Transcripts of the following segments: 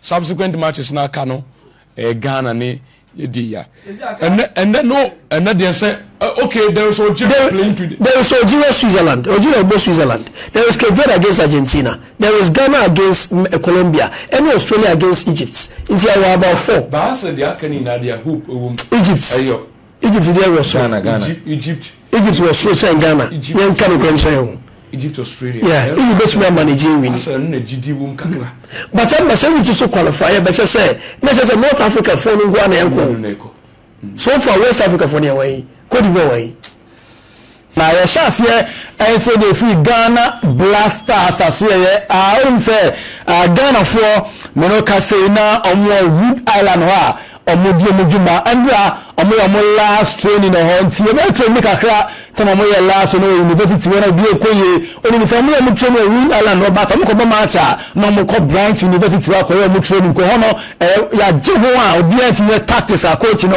Subsequent matches na aka no ɛyɛ Ghana ne yɛdi ya. Ɛnɛ ɛnɛ no ɛnɛ deɛ sɛ okay there is Algeria playing today. There is Algeria Switzerland Algeria ɛbɔ Switzerland there is Cape Verde against Argentina there is Ghana against Colombia ɛne Australia against Egypt nti ɛwɔ about four. Baasa deɛ aka no nyinaa deɛ hope ɛwɔ mu. Egypt ɛyɛ Egypt deɛ wɔ soro. Ghana Ghana. Egypt. Egypt wɔ soro kyɛn Ghana. Yɛn nka no kura nkyɛn o. Egypt Australia. Yeah, Egypt betumi ama ne gye wini. Asɛ no na gyidi wom kakra. But ɛmba sɛ Egypt so qualify yɛ bɛkyɛ sɛ na kyɛ sɛ North Africa foɔ no nko ara na ɛkɔ. So far West Africa foɔ deɛ wɔn yi, Cote d'Ivoire wɔn yi. Na yɛhyɛ aseɛ nso de firi Ghana Black Stars asoɛeɛ a wonim sɛ Ghanafoɔ me no ka sei na wɔn wɔ Rhode Island hɔ a wɔn di wɔn dwuma ɛnbra wɔn yɛ wɔn last training ɛhɔ nti wɔn bɛ train kakra tam wɔn yɛ last wɔn wɔ university wɔn a obi ekɔ yie onim sɛ wɔn yɛ wɔn train wɔ Rhode Island hɔ but wɔn kɔ bɔ match a na wɔn kɔ Bryant University hɔ akɔ yɛ wɔn training kɔ hɔ no ɛyɛ yagye ho a obiara ti yɛ tactics a coach no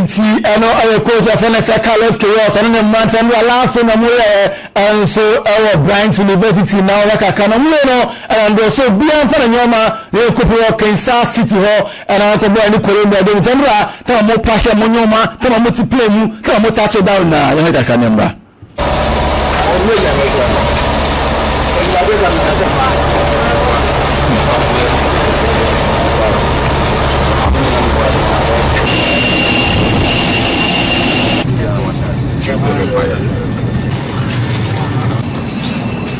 nti ɛno ɛyɛ coach ɛfɛ no sɛ carlos chaos ɔno ne mmeranteɛ no alaso na mu yɛ ɛnso ɛwɔ branch university na ɔyɛ kakra na mu yɛ no ɛna ndeɛ so biara nfa na nneɛma na yɛ kɔpɛ wɔ kansas city hɔ Ɛna ɔkɔ bɔɔ ne kɔrɛ mu ɛde ne tɛmrɛ a tɛma mo pa hwɛ mo nyoma tɛma mo te plane mu tɛma mo tache down nyinaa yɛhwɛ kakra ne mmra.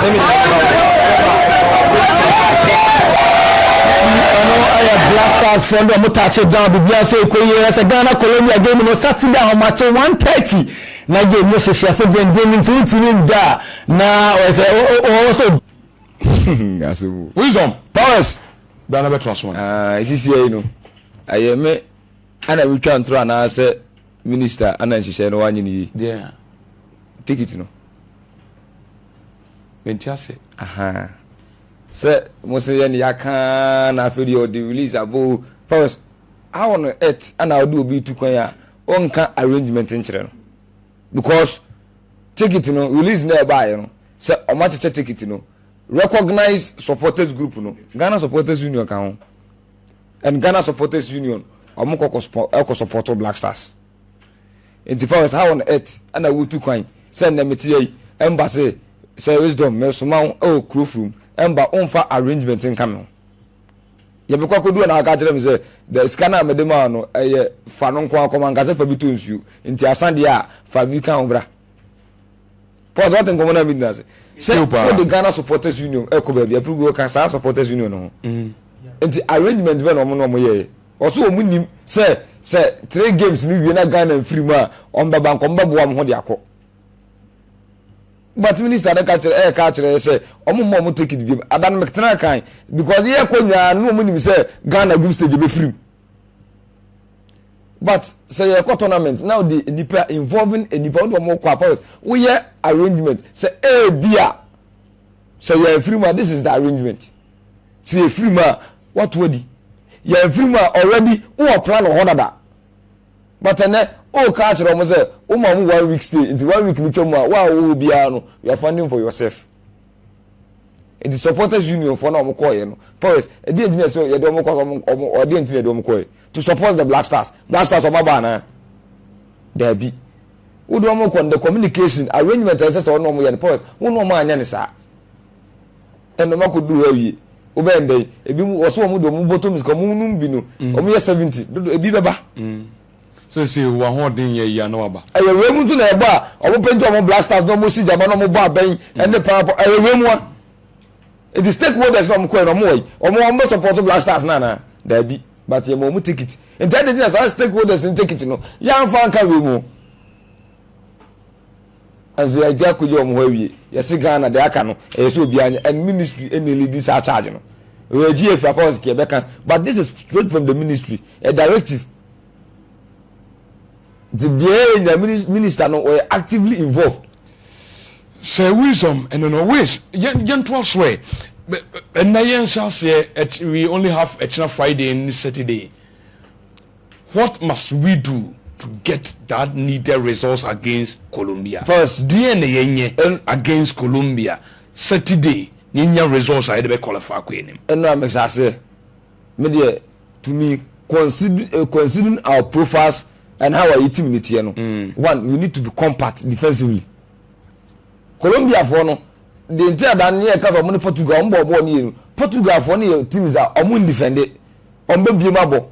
Seminar no ma wo kɔ ma ɔma wo bɔ dua ma wo kɔ ma ɔma wo bɔ dua. Nti ɔno ɛyɛ Black Stars foɔ no deɛ ɔmo touch down biribiara sɛ ɛkɔ yie ɛsɛ Ghana Colombia game no Saturday ahomakye one thirty na game no hyehye ase dendenden nti wo ntumi nda a na ɔyɛ sɛ ɔwɔ sɛ Asɛm o. Wisdom powers bɛa na bɛtra so. Aa ɛsisiɛ yi no ɛyɛ me ɛna me twa ntoro anaasɛ. Minister ana nhyehyɛe no wanyɛ no yie. Deɛ ticket no mente ase. Ahaa sɛ mo se yɛne yɛaka na afei deɛ ɔde release aba o pause how on earth ana ɔde obi tu kwan a ɔnka arrangement nkyerɛ no because ticket no release na ɛbaeɛ no sɛ ɔmo akyekyɛ ticket no recognize supporters group no Ghana supporters union ka ho And Ghana supporters union ɔmo kɔ kɔ support black stars nti fawes how on earth ɛna wotu kwan sɛ nnɛ mete yɛ yi ɛmba se sɛ wisdom mesoma wo ɛwɔ kuro furum ɛmba womfa arrangement nka me ho yɛbɛkɔ akɔdu na aka kyerɛ me sɛ da sika no a mede maa no ɛyɛ fa no nko akɔma nka sɛ fa bi tɔ nsuo nti asa deɛ a fa bi ka ho bra Paul sɛ wate nkɔmmɔ no a medi no ase sɛ Ɛtew paa. wode Ghana Supporters Union ɛkɔ baabi a ɛpere gu ɔka saa Supporters Union no ho nti arrangement bɛn na wɔn na wɔn yɛeɛ wɔso wɔn nim sɛ sɛ three games no wie na Ghana mfiri mu a wɔn bɛba nka wɔn bɛboa wɔn ho de akɔ but minister no ka kyerɛ ɛɛka akyerɛ yɛ sɛ wɔn mma wɔn ticket biom ada no meketena kan because yɛkɔ nyinaa no wɔn nim sɛ Ghana group stage bɛfiri mu but sɛ yɛ kɔ tournament na ɔde nipa involving nipa ɔde wɔn kɔ apɔs woyɛ arrangement sɛ ebi a sɛ yɛ efiri mu a this is the arrangement sɛ yɛ efiri mu a wato adi yɛ efiri mu a already wɔ plan wɔ hɔ dada but ɛnɛ o ka akyerɛ wɔn sɛ wɔn ma wɔn one week stay nti one week no twɛ mu a wɔn a wɔwɔ hɔ biara no you are funding for yourself. nti supporters union fɔ na wɔn kɔɔyɛ no forest ɛdi yɛn ti na ɛsɛ yɛde wɔn kɔ so wɔn wɔn ɛdi yɛn ti na yɛde wɔn kɔɔyɛ to support the black stars black stars wɔn aba anaa daabi wode wɔn kɔ no the communication arrangement ɛsɛ sɛ wɔn wɔn yɛ no forest wɔn wɔn anyɛ ne saa ɛna wɔn akɔ duru hɔ awie wobɛn ndɛ ebi wɔso wɔn de wɔn bɔtɔ mu sika wɔn num bi no wɔn yɛ seventy dodo ebi bɛba. Seesei wowɔ ahoɔden yɛ yia na waba. Ɛyɛ wei mu nso na ɛbɔ a wɔn penti wɔn blasters na wɔn si gyama na wɔn bɔ abɛn ɛne paapɔ ɛyɛ wei mu a nti stakeholders na wɔn kɔɛ na wɔn wɔ yi wɔn wɔn bɛ support blasters na anaa daabi but yɛ ma wɔn ticket nti ɛde gyina saa stakeholders ne ticket no yɛn anfa nka wei mu. Nanso yɛagya kogye wɔn hɔ awie. Yɛse Ghana deɛ aka no ɛyɛ sɛ obiara nyɛ and ministry ɛna leadi saa charge no. Yɛagye afiri akɔ house kea ɛbɛka but this is straight from the ministry a directive. Nti deɛ yɛnya minister no ɔyɛ actively involved. Sɛ wisdom ɛno no ways yɛntoa so ɛ ɛnna yɛnhyɛ aseɛ we only have ɛkyena Friday ne Saturday. What must we do to get that needed results against Colombia? First, deɛn na yɛnyɛ against Colombia Saturday na yɛnya results a yɛde bɛ qualify akɔ anim? Ɛno a mehyɛ aseɛ me deɛ to me considering considering our profiles and how a yɛ team no teɛ no, one we need to be compact defensively. Colombia foɔ no deɛ nti a dan ne yɛka sɛ ɔmo ne Portugal ɔmo bɔɔ bɔɔl no yie no, Portugal foɔ no yɛ teams a ɔmo ndefɛnde. Wɔn bɛ biem abɔ.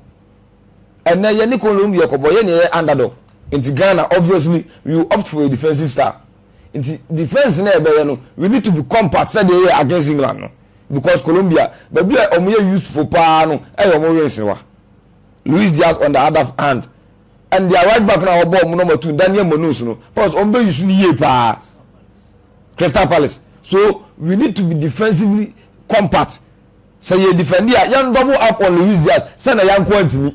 Ɛnɛ yɛne Colombia kɔbɔ yɛne yɛyɛ underdog. Nti Ghana obviously we will opt for a defensive style. Nti defence na yɛbɛyɛ no we need to be compact sɛdeɛ yɛyɛ against England no because Colombia baabi a wɔn yɛ useful paa no ɛyɛ wɔn wings wa. Luis Diaz on the other hand and their right back no a wɔbɔ wɔn na wɔn atu Daniel Munoz no pause wɔn bɛ use no yie paa Crystal Palace so we need to be defensively compact. Sɛ yɛ defend a yɛn double up on Luis Diaz sɛ na yɛn nko antumi.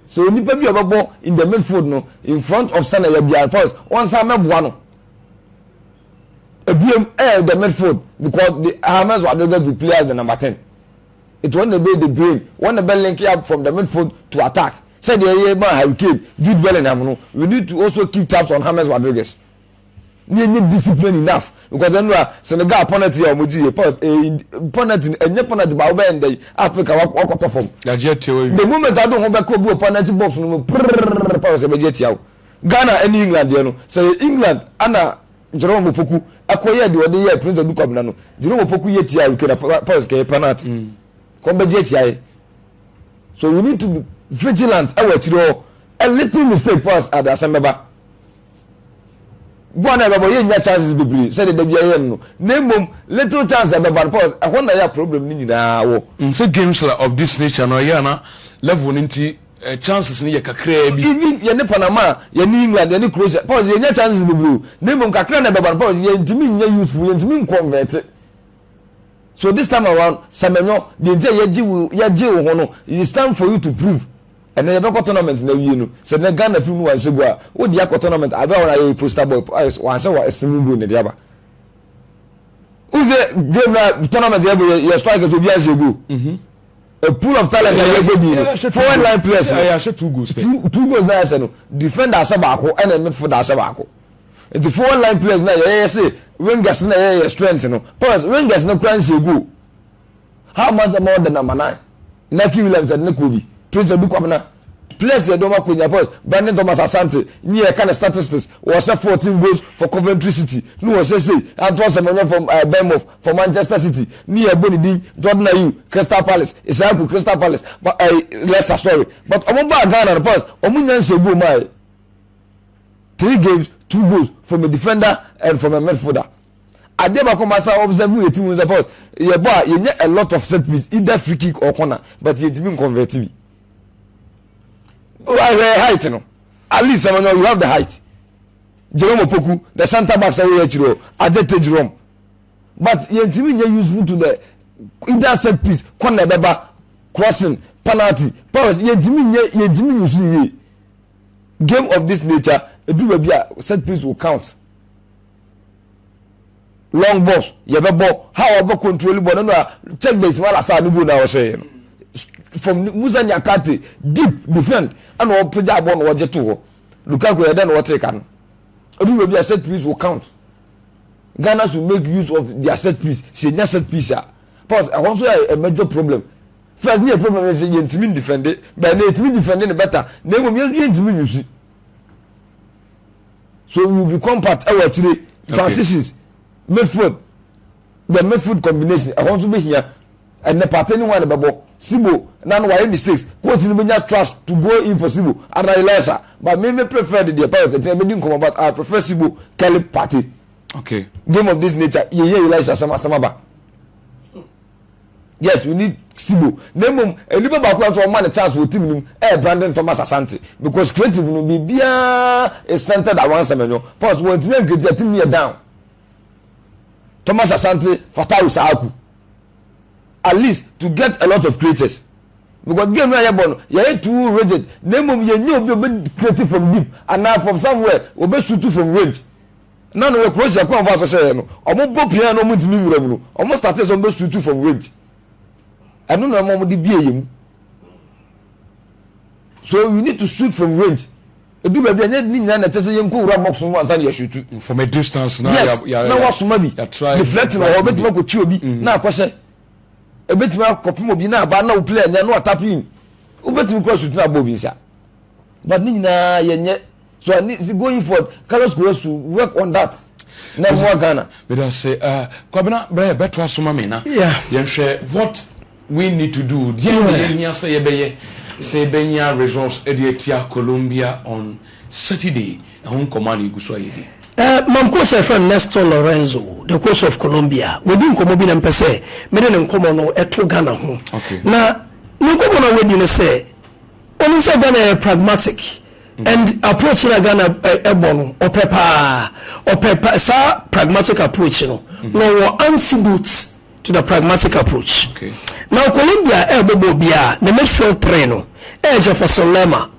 Sɛ onipa bi a ɔbɛbɔ in the midfield no in front of sɛ na yɛ bia Torres wɔn san mɛboa no. Ebiem ɛyɛ the midfield because the James Rodriguez will play as the number ten. It wɔn na ɛbɛyɛ the brain wɔn na ɛbɛ link up from the midfield to attack sɛdeɛ yɛ ma Harry Kane Jude Bellingham no we need to also keep tabs on James Rodriguez. ne yɛnyɛ discipline enough because ɛno a Senegal penalty a wɔgye yɛ pass eh, penalty ɛnyɛ penalty ba wobɛyɛ ndɛ yi Africa wakɔtɔ fam the moment ado ho bɛkɔ bi wɔ penalty box no mu prrrr pass ɛbɛgye atia wo Ghana ɛne England deɛ no sɛ yɛ England ana Jerome Opoku ɛkɔyɛ deɛ ɔde yɛ Prince Adu Kwabena no Jerome Opoku yɛ tia Harry Kane pass kɛyɛ penalty mm. kɔn bɛgye atia yɛ so we need to be vigilant ɛwɔ akyire hɔ a little mistake pass ade asɛm bɛba Bɔ na ɛbɛbɔ, yɛnnya chances bebree sɛdeɛ da biara yɛyɛ no no, na mmom little chance a ɛbɛba no, Paul sɛ ɛhɔ na ɛyɛ a problem no nyinaa wɔ. Sɛ games a of this nature no, ɛyɛ a na level no nti chances no yɛ kakraa bi. Even yɛne Panama, yɛne England, yɛne Croatia, Paul sɛ yɛnnya chances bebree o, na mmom kakra na ɛbɛba no, Paul sɛ yɛntumi nyɛ useful, yɛntumi nconvert. So this time around, Semenyo, deɛ nti a yɛgye wo, yɛgye wo ho no, it's time for you to prove Ɛnɛ yɛbɛkɔ tournament na awie no sɛ nɛ Ghana film no wanhyɛ gu a wo deɛ akɔ tournament adeɛ a wɔn ayɛ yɛ poster boy wanhyɛ wɔ ɛsene mu goal na ɛde aba wo sɛ game na tournament yɛ bɔ yɛ strikers obi anhyɛ goal mhm. a pool of talent na yɛbɔ di no forward line players no yɛahyɛ two goals two, two goals na yɛsɛ no defender ahyɛ baako ɛna midfielder ahyɛ baako nti forward line players na yɛyɛ sɛ wingers na yɛyɛ strength no powers wingers no kura nhyɛ goal How much am order number nine? Nike Williams ɛde ne kɔɔ bi. Prince Adu Kwabena. Players yɛ dɔma Konya Boys. Brandon Thomas Asante nye yɛka ne statistics. Wɔhyɛ 14 goals for Coventry City ne wɔhyɛ sei. Anto Asem ɔnyɛ from uh, Bournemouth for Manchester City ne yɛbɔ ne din. Jordan Ayew Crystal Palace. Isaaku Crystal Palace. Ba, uh, Leicester sorry. But ɔmo baa Ghana no Palace ɔmo nya nhyɛ goal maae. Three games, two goals from a defender and from a midfielder. adeɛ baako ma sa observe yɛ ti mu sɛ pause yɛ bɔ a yɛnyɛ a lot of set piece either free kick or corner but yɛntumi nconvert bi wahwɛ height no at least sɛ manyɔ you have the height jerome opoku the center back sɛ woyɛ akyiri o adete jerome but yɛntumi nyɛ useful to the either set piece corner ɛbɛba crossing penalty pause yɛntumi nyɛ yɛntumi nyɛ useful yie game of this nature edu baabi a set piece will count. long bus yɛbɛbɔ ha a wɔbɛ control bɔ no no a check base ma lasa ne goal na wɔhyɛeɛ no from musa nyakate deep defend ɛna ɔpagya abɔ na ɔgye to hɔ lukaku yɛ dɛ na ɔte ka no ɛdu baabi a set piece will count ghana should make use of their set piece sɛ ɛnya set piece a because ɛhɔ nso yɛ a major problem first ne yɛ problem yɛ sɛ yɛntumi defend bɛɛ na yɛtumi defend no better na mmom yɛntumi nyusi so we will be compact ɛwɔ akyire transitions midfield the midfield combination ɛhɔ nso bɛhia ɛnɛ pate ne ho a ne bɛbɔ sibo na no wayɛ mistakes coach no bɛnya trust to go in for sibo and i like that but me me prefer the deɛ pirates ɛnti ɛbɛdi nkɔmɔ but i prefer sibo kelly pate okay game of this nature yɛyɛ elias asɛm asɛm aba yes we need sibo na mmom nipa baako a nso ɔma ne chance wɔ team no mu ɛyɛ brandon thomas asante because creative no biribiara is centered around sɛmɛnyɔ pause wɔn ntumi nkiriti a team no yɛ down thomas asante fatawu saaku at least to get a lot of creators because game no a yɛbɔ no yɛyɛ too rigid na mmom yɛnyɛ obi a ɔbɛ creative from deep anaa from somewhere ɔbɛ shoot from range. na no wɔ kuro hyɛ kwan fa so hyɛ yɛ no ɔmo bɔ pia na ɔmo ntumi nwura mu no ɔmo start sɛ ɔmo bɛ suitu from rent ɛno na ɔmo de bie yɛ mu so you need to shoot from range edu baabi a nye ne nyinaa na ɛkyɛ sɛ yɛn nkowura box mu ansa na yɛ shoot. from a distance na yes na wasoma bi deflecting wɔ hɔ obetumi akɔtwi obi mm-hmm. na akɔhyɛ ebetumi akɔpem obi na aba na o play anya na watap in obetumi kɔ shoot na abɔ obi nsa but ne nyinaa yɛnyɛ. so at least going forward carlos kowasu work on that na ɛmoa ghana. meda se uh, kwabena bɛɛ bɛtoa so ma me na yeah. yɛnhwɛ what we need to do deɛ na yɛhia sɛ yɛbɛyɛ sɛ yɛbɛnya results de atia colombia on saturday ɛho nkɔmmɔ a na yɛgu so a yɛdi Uh, mamko sɛ fɛ nesto lorenzo the coast of colombia wɔdi nkɔmmɔ bi na mpɛ sɛ mede ne nkɔmmɔ no ɛto ghana ho okay. na ne nkɔmmɔ no wɔdi no sɛ ɔnim sɛ ghana yɛ pragmatic And approach na Ghana ɛbɔ no ɔpɛ paa ɔpɛ pa saa pragmatic approach no mm-hmm. na ɔwɔ antidote to the pragmatic approach okay. na Colombia ɛbɔbɔ biara ne midfield three no ɛyɛ Jefferson Lerma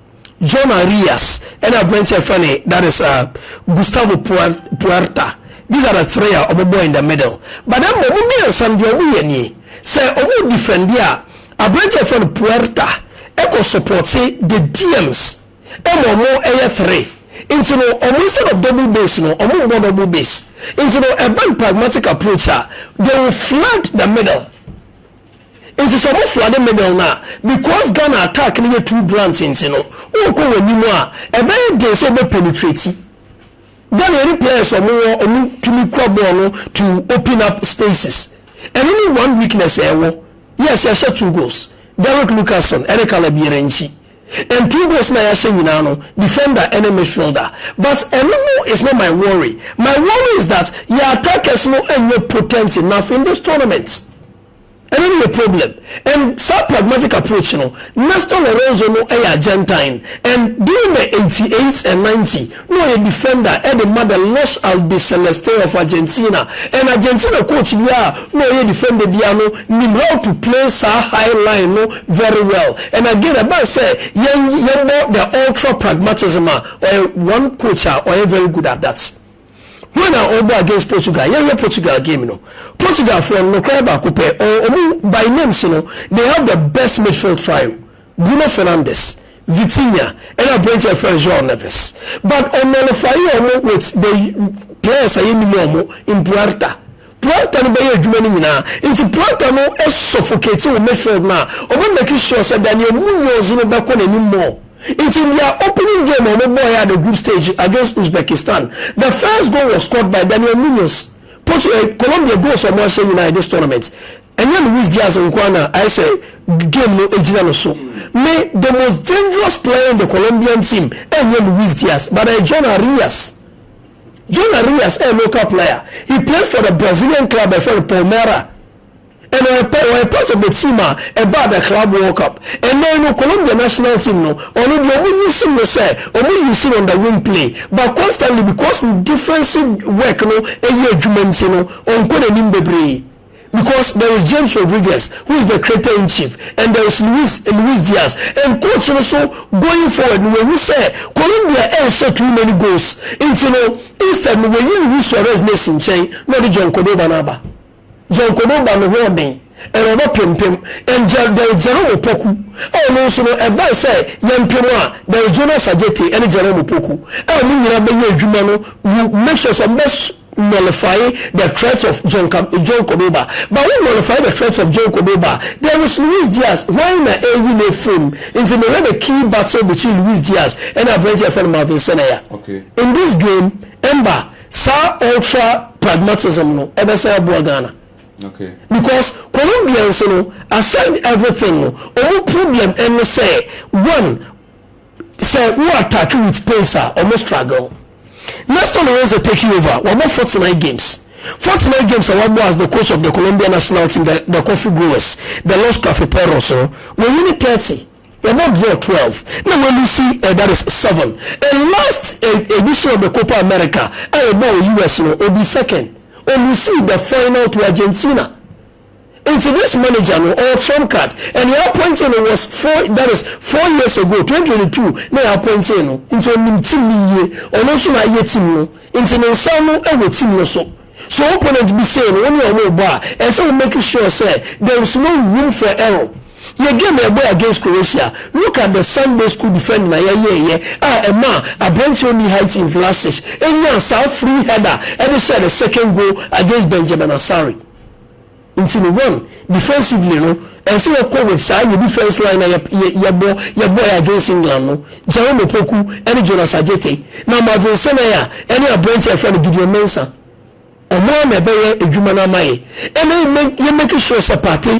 John Arias ɛna aberante ɛfɛ ne that is uh, Gustavo Puerta these are the three a ɔbɔbɔ in the middle but then ɔmo mmiɛnsa deɛ ɔmo yɛ nie sɛ ɔmo defend a. Aberantsɛ a wɔfrɛ no Puerta kɔ supportse the Diems ma ɔmo yɛ three ntsi no ɔmo instead of double base no ɔmo mbɔ double base ntsi no ɛba no pragmatic approach a they will flood the middle ntsi sɛ ɔmo floode middle no a because Ghana attack no yɛ too blunt ntsi no ɔkɔ wɔn enim a ɛbɛyɛ den sɛ wɔbɛ penetrate Dɛn na yɛne players a wɔwɔ wɔn tumi kura bɔɔl no to open up spaces? Ɛno ne one weakness a yɛwɔ. Yes, yɛahyɛ two goals. Derek Lucassen ne Caleb Yerenci. And two goals no a yɛahyɛ nyinaa no, defender ne midfielder. But ɛno no is not my worry. My worry is that yɛn attackers no nyɛ potent enough in this tournament. Ɛno ne yɛ problem and saa pragmatic approach no Nestor Lorenzo no yɛ Argentine and during the eighty eight and ninety na ɔyɛ defender de ma the Los Albiceleste of Argentina and Argentina coach biara a na ɔyɛ defender biara no nim how to play saa high line no very well and again ɛbaa sɛ yɛn yɛbɔ the ultra pragmatism a ɔyɛ one coach a ɔyɛ very good at that. Hwan na ɔbɔ against Portugal? Yɛn hwɛ Portugal game no. Portugal foɔ no nokorɛ baako pɛ ɔɔ ɔmo by names no they have the best midfield trio Bruno Fernandes, Vitinha ɛna aberanteɛ a yɛfrɛ no João Neves but ɔnullify ɔmo with the players a yɛnnim ɔmo in Puerta. Planter no bɛyɛ adwuma no nyinaa nti planter no suffocate wo midfield no a ɔbɛ make sure sɛ da nea Munoz no bɛkɔ n'anim more nti in their opening game a ɔmo bɔɔɛ at the group stage against Uzbekistan the first goal was scored by Daniel Munoz Portu eh Colombia goals a ɔmo ahyɛ nyinaa in this tournament ɛnyɛ Luis Diaz nkoaa na ayɛ sɛ game no gyina no so me the most dangerous player in the Colombian team ɛnyɛ Luis Diaz but ɛyɛ John Arias John Arias yɛ local player, he plays for the Brazilian club a yɛfrɛ no Palmeira and ɔyɛ pa ɔyɛ part of the team a ɛbaa the club world cup. Ɛnnɛ yi no Colombia national team no ɔno deɛ ɔmo use no sɛ ɔmo use no on the wing play but constantly because ne defensive work no yɛ adwuma nti no ɔnkɔ n'anim bebree. because there is James Rodriguez who is the creator in chief and there is Luis Luis Diaz and coach no so going forward no wahu sɛ Colombia ɛnhyɛ too many goals nti no instead no wayi Luis Suarez no asi nkyɛn na ɔde John Cordoba no aba John Cordoba no ho ɔden and ɔbɛ pempem and there is Jerome Opoku a ɔno nso no ɛbɛn sɛ yɛmpem a there is Jonas Adjetey ɛne Jerome Opoku a ɔmo nyinaa bɛyɛ adwuma no will make sure sɛ ɔmo bɛ nullify the threats of John John Cordoba but wo nullify the threats of John Cordoba there is Luis Diaz why na ɛyi ne fam nti mehwɛ the key battle between Luis Diaz ɛna aberɛnti ɛfɛ no Marvin Senaya okay. in this game ɛmba saa ultra pragmatism no ɛbɛsan aboa Ghana okay. because Colombians no aside everything no ɔmo problem ɛne sɛ one sɛ wo attack with pace a ɔmo struggle na still wɔn sɛ taking over wɔbɔ forty nine games forty nine games a wɔbɔ as the coach of the Colombia national team the, the coffee growers the Los Cafeteros no wɔn wini thirty wɔbɔ draw twelve na wɔn lusi uh, that is seven and last uh, edition of the Copa America a wɔbɔ wɔ US no obi second wɔn lusi the final to Argentina. Nti this manager no ɔwɔ trump card and yɛ appointing no was four that is four years ago twenty twenty two na yɛ appointing no nti ɔnim team no yie ɔno nso na ayɛ team no nti ne nsa no wɔ team no so so opponent bi say no wo ne ɔmo rebɔ a ɛnsɛ wo make sure sɛ there is no room for error yɛ game a yɛbɔɛ against Croatia look at the Sunday school defending a yɛyɛɛyɛ a ɛmaa abranteɛ ɔnni height in Vlasic nyaa saa free header de hyɛɛ the second goal against Benjamin Asare. Nti no one, defensively no, ɛnsɛ yɛkɔ with saa yɛ defense line a yɛbɔ yɛbɔɛ against England no, Jerome Opoku ɛne Jonas Adjetey, na Marvin Senae a ɛne aberanteɛ a yɛfrɛ no Gideon Mensah. Ɔmo ara na ɛbɛyɛ adwuma no ama yɛ. Ɛna yɛ make sure sɛ Partey.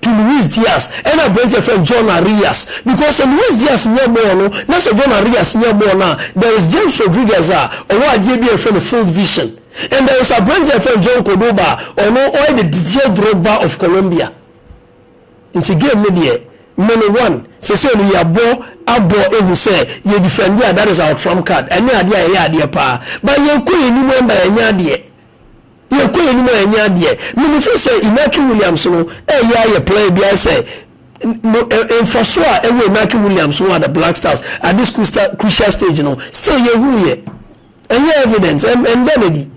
to Luis Diaz ɛna aberanteɛ yɛfrɛ no John Arias because sɛ Luis Diaz nya bɔɔl no na sɛ John Arias nya bɔɔl no a there is James Rodriguez a ɔwɔ adeɛ bi a yɛfrɛ no field vision and there is aberanteɛ a yɛfrɛ no John Cordoba a ɔno ɔyɛ the Didier Drogba of Colombia nti game no deɛ me no one sesei no yɛabɔ abɔ ehu sɛ yɛ defend a that is our trump card ɛnyɛ adeɛ a yɛyɛ adeɛ paa but yɛnkɔ yɛn anim ɛmma yɛnyɛ adeɛ. Yɛkɔ yɛnim a ɛnyɛ adeɛ. Mimifo sɛ Inaki Williams no ɛyɛ ayɛ play bi ayɛ sɛ no mfaso a ɛwɔ Inaki Williams ho a the Black Stars at this crucial stage no still yɛhu yɛ ɛnyɛ evident ɛnda no adi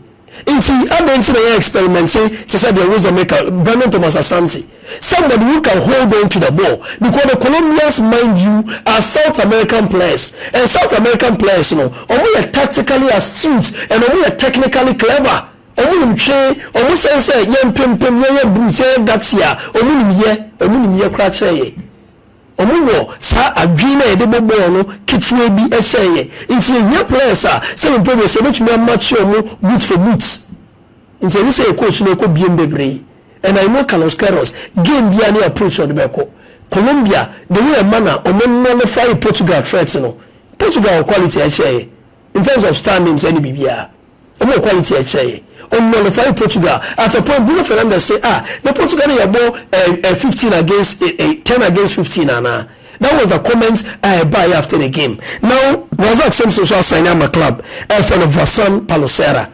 nti adɛn nti na yɛ experimenti te sɛ deɛ Wisdommaker Brandon Thomas Asante Somebody who can hold on to the ball because the Colombians mind you are South American players and South American players no ɔmo yɛ tactically astute and ɔmo yɛ technically clever ɔmo nim twe ɔmo sɛn sɛ yɛn mpempem yɛn yɛ brutes yɛn yɛ gutsy a ɔmo nim yɛ ɔmo nim yɛ koraa kyɛn yɛn ɔmo wɔ saa adwene na yɛde bɔ bɔɔl no ketewa bi ɛhyɛn yɛn nti yɛ hia players a sɛ me previous yɛbɛtumi amakye ɔmo boot for boot nti ɛnyɛ sɛ yɛ coach no ɛkɔ biem bebree And I know Carlos Queiroz game biara ne approach a ɔde bɛkɔ. Colombia the way ɛma na ɔmo nullify Portugal threat no, Portugal wɔ quality a ɛkyɛn yɛ in terms of star names ɛne biribiara. Ɔmo wɔ quality a ɛkyɛn yɛ. Ɔ nullify Portugal at a point Bruno Fernandes se ah na Portugal no yɛbɔ eh eh fifteen against eh eh ten against fifteen anaa? That was the comment a ɛbaeɛ after the game. Now Razak Simpson nso asign ama club a yɛfrɛ no Vasan Paloserra.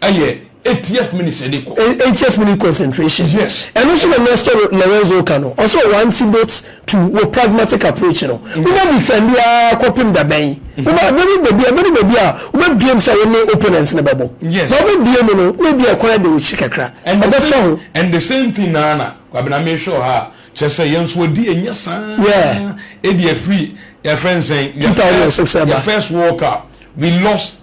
Ɛyɛ ATF mini sɛ de kɔ. ATF mini concentration. Yes. Ɛno nso na Nestor Lorenzo ka no. Ɔsɛ ɔwɔ antidote to wɔ pragmatic approach no. Wobɛ defend aa kɔpem dabɛn. Wobɛ abɛdu baabi abɛdu baabi a wobɛ biem sɛ wone opponent no bɛbɔ. Yes. Na wobɛ biem no na ebi a ɛkwan ɛda w'akyi kakra. Ɛbɛ fa ho. And the same thing naa na Kwabena me hwɛ wɔ ha a kyerɛ sɛ yɛn nso adi ɛnyɛ saa. Yeah. Ebi afiri yɛfrɛ nsɛn. 2006 ɛba. Yɛ first world cup we lost.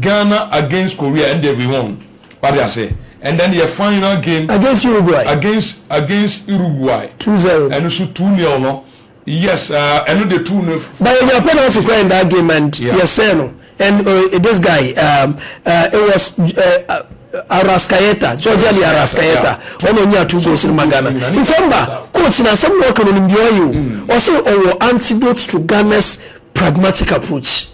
Ghana against Korea ɛndeɛ we won wate aseɛ and then yɛ final game against Uruguay against against Uruguay two zero ɛno so two nil no yes ɛno de two no but yɛ nya penalty kora in that game and yeah. yɛ sɛ no and uh, this guy um, uh, it was uh, Arascaeta, Georgia de Arascaeta, ɔno nya two goals in Ghana. In fact, coach na asɛm na ɔka no nimdeɛ ɔyɛ o. Ɔsɛ ɔwɔ antidote to Ghana's pragmatic approach.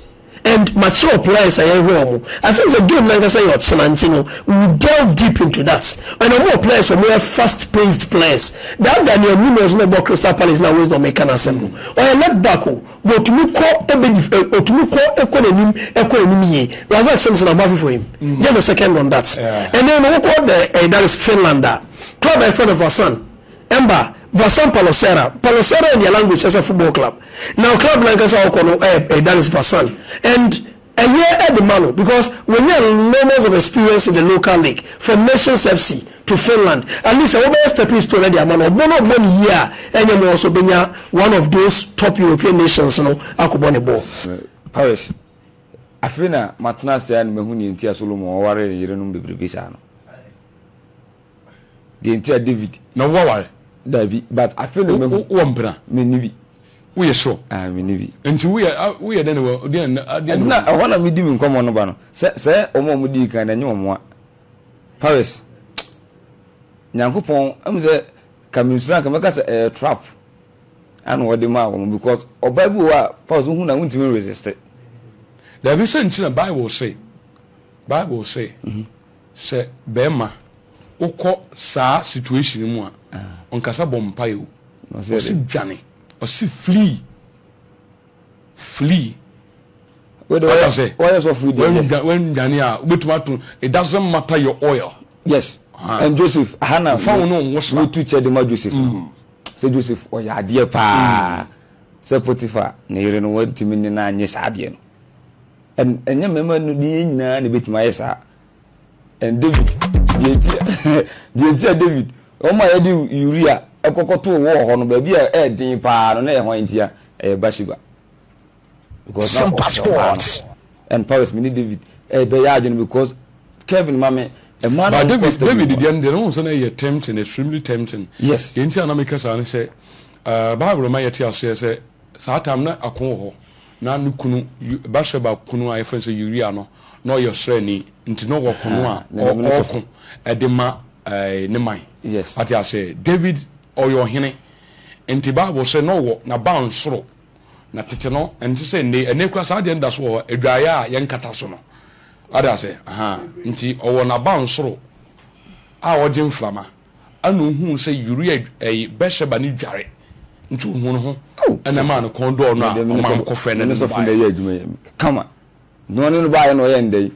and mature plies a yɛhwɛ wɔn I think sɛ game nankasa yɛ ɔkyena nti no we will delve deep into that and wɔn wɔ plies wɔn yɛ fast paced players that Daniel Munoz na ɔbɔ Crystal Palace na Wisdom meka n'asɛm no ɔyɛ left back o but otumi kɔ ebe otumi kɔ ekɔ n'anim ekɔ n'anim yie Razak Simpson I'm happy for him mm. just a second on that ɛnna ɛnna wɔkɔ the ɛyɛ that is Finland a club ɛfɛ no Vasan. Emba, Vassam Palloserra, Palloserra in their language is a football club. Now club no ankasa a ɔkɔ no eh eh that is Vassam and ɛyɛ ɛde ma no because wanya lmos of experience in the local league from Nations FC to Finland at least ɛhɔ bɛyɛ stepping stone ɛde ama no ɔbɔ no ɔbɔ no yie a ɛnyɛ ma ɔso bɛnya one of those top European nations no akɔbɔ ne bɔɔl. Paris, Afei na matena ase ara na mahu nea enti a Solomon waree yerenom bebrebe saa no. Deɛ nti a David. Na wo aware. Dabi but afe na mahu. Wo wɔ mpena. Me ni bi. Wo yɛ sure. Ah me ni bi. Nti wo yɛ wo yɛ dɛn na wɔ deɛ na adeɛ. Ɛnti na ɛhɔ na me di me nkɔmɔ no ba no sɛ sɛ wɔn a wɔn di kan na nye wɔn a Paris Nyankopɔn ɛmu sɛ ka me nsura nka mɛka sɛ ɛyɛ trap ɛna wɔde maa wɔn because ɔbaa bi wɔ a Paris wohu na wontumi resiste. Dabi sɛ nti na Bible say Bible say. Mm -hmm. Sɛ bɛɛma wokɔ saa situation no mu a ɔnkasa bɔ mpaeɛ o ɔse dwane ɔse flee flee Wode wayɛ Wata sɛ wayɛ sɔfo yi deɛ wɛndwa wɛndwane a wobɛtumi ato it doesn't matter your oil Yes Aha. and Joseph aha na Fa wo ne wo nwosra. metu kyɛ de ma Joseph no sɛ Joseph ɔyɛ adeɛ paa sɛ Potiphar ne yere no wantumi ne no annye saa adeɛ no Ɛnyɛ mmarima no deɛ nyinaa na ɛbɛtumi ayɛ saa. And David, deɛ nti a, deɛ nti a David, wɔn a yɛde Uria kɔkɔtoo wɔ hɔ no, baabi a ɛyɛ den paa no, na ɛyɛ hwan ntia? Ɛyɛ Bathsheba. Because na Super ɔpɛ ɔbaa no. Sports. And Paris, me ne David ɛbɛyɛ adwene because Kevin ma me mmaa no But a wɔkɔ David, study David no. deɛ no deɛ no ho sɛ na ɛyɛ tempting, extremely tempting. Yes. Deɛ nti a na meka saa ne sɛ, ah, Bible ma yɛte aseɛ sɛ saa time na ako wɔ hɔ. Ná ne kunu, Bat-Sheba kunu a wɔfrɛ no sɛ Uria no, na ɔyɛ ɔsraani, enti na ɔwɔ ɔko no a ɔreko de ma ne man. Wate ase? Dawid, ɔyɛ ɔhene, enti Bible sɛ na ɔwɔ n'abansoro. Na tete no, ɛnte sɛ nnɛ yi. Ɛnnɛ koraa, saa adeɛ no da so wɔ hɔ, adwaeɛ a yɛnkata so no. Wate ase? Enti ɔwɔ n'abansoro a ɔgye mframa. Ɛnna ohuu sɛ Uria ɛyi Bɛseba no dware, nti ohuu ne ho, ɛnna ɛmaa ne kɔn dɔɔ no a ɔmaa no kɔfrɛɛ no ne no baeɛ. Kama, na ɔne no baeɛ na ɔyɛɛ no dɛn?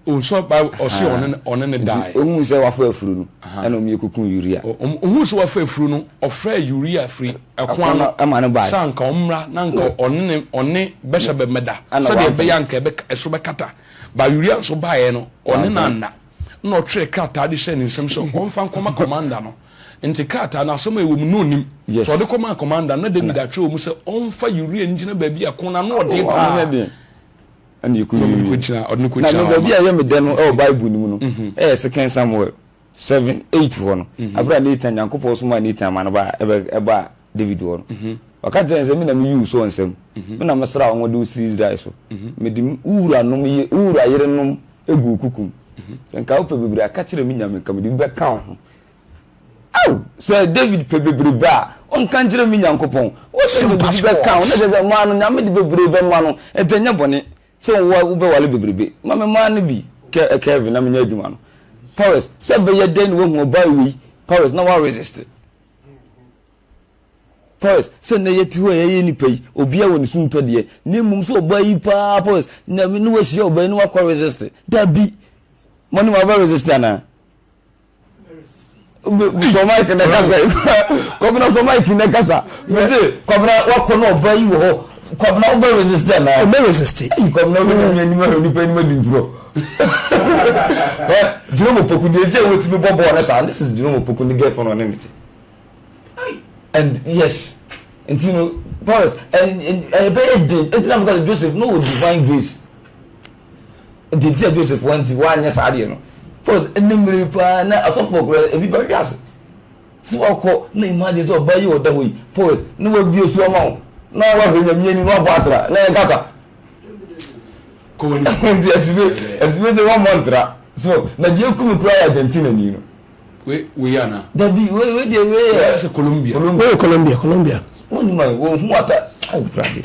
Ɔsɔ Bible ɔse ɔne no ɔne no daeɛ. Nti ohuu sɛ wafa afuru no, ɛnna wɔn mmienu kɔkuu Uria. Ohuu sɛ wafa afuru no, ɔfrɛɛ Uria firi ɛko ano sɛ anka ɔmmra na anka ɔne no ɔne Bɛseba mmɛda sɛdeɛ ɛbɛyɛ a anka ɛso bɛkata. Ba Uria nso baeɛ no, ɔne no anna. Ɛnna ɔtwerɛɛ krataa de hyɛɛ ne nsam sɛ ɔmfa nkɔma kɔmanda no. Enti krataa no, asɛm a ɛwɔ mu no, ɔnnim. Sɛ ɔde kɔmaa kɔmanda no, na Dawid atwerɛ wɔ mu sɛ ɔmfa Uria ngyina baabi a ko no ano ɔden pa ara, na ɔde no kɔgyina hɔ mma. Na baabi a ɛyɛ me dɛ no wɔ Bible no mu no yɛ Second Samuel seven eight hɔ no, berɛ a Natan, Nyankopɔn somaa Natan ma no baa David hɔ no, ɔka kyerɛɛ no sɛ, Me na meyii wo soɔ nsam, me na mesraa wo ngo de wo sii Israel so. Mede wo wuranom, wo wura yerenom guu wo kuku mu. Sɛ anka wopɛ bebrebe a, ka kyerɛ me Nyame, anka mede bi bɛka wo ho. Ao, sɛ David pɛ bebrebe a, ɔnka nkyerɛ me Nyankopɔn. Wose mede bi bɛka wo, na kyerɛ sɛ, maa no, Nyame de bebree bɛma no. Enti ɛnyɛ bɔne sɛ wobɛware bebrebe. Ma me mmaa no bi, Kelvin, na menyɛ adwuma no. Powers, sɛ ɛbɛyɛ dɛn na woahu ɔbaa wei, Powers, na woaresiste. Powers, sɛ nnɛ yɛte hɔ a yɛyɛ nnipa yi, obiara wɔ ne suntɔ deɛ, na mmom sɛ ɔbaa yi paa Powers, na ne wahyia ɔbaa yi na wakɔ resist, dabi, mo ne wabɛ resist anaa? sọ mike na kasa kọbena sọ mike na kasa mese kọbena wakɔ na ɔbaa yi wɔ hɔ Kwabena wo bɛ resist dɛ naa. O bɛ resist. Eyi kwabena wo bɛ nyame anim ahwɛ nipa anim adi ntorɔ. Ɛ Jerome Opoku deɛ nti a watumi bɔ bɔɔl ne saa this is Jerome Opoku ne girlfriend ɔne ne te. And yes nti no Paris ɛbɛyɛ den ɛtina because Joseph no wɔ divine grace deɛ nti a Joseph wanti wanyɛ saa deɛ no Paris ɛnɛ mmere paa na asɔfoɔ koraa ebi bɛhwe ase. Sɛ wakɔ na imagine sɛ ɔbaa yi a ɔda hɔ yi poes na wabue so ama wo na wahwɛ nyame ani na wabɔ atra na ɛyɛ kaka kɔ wani nti asibe asibe sɛ wɔmmɔ ntra so na deɛ ɛku me koraa yɛ Argentina ni no wei ana dabi wei wei deɛ wei yɛ sɛ Colombia wei yɛ Colombia Colombia wɔn ni ma wɔn hu ata ayi brade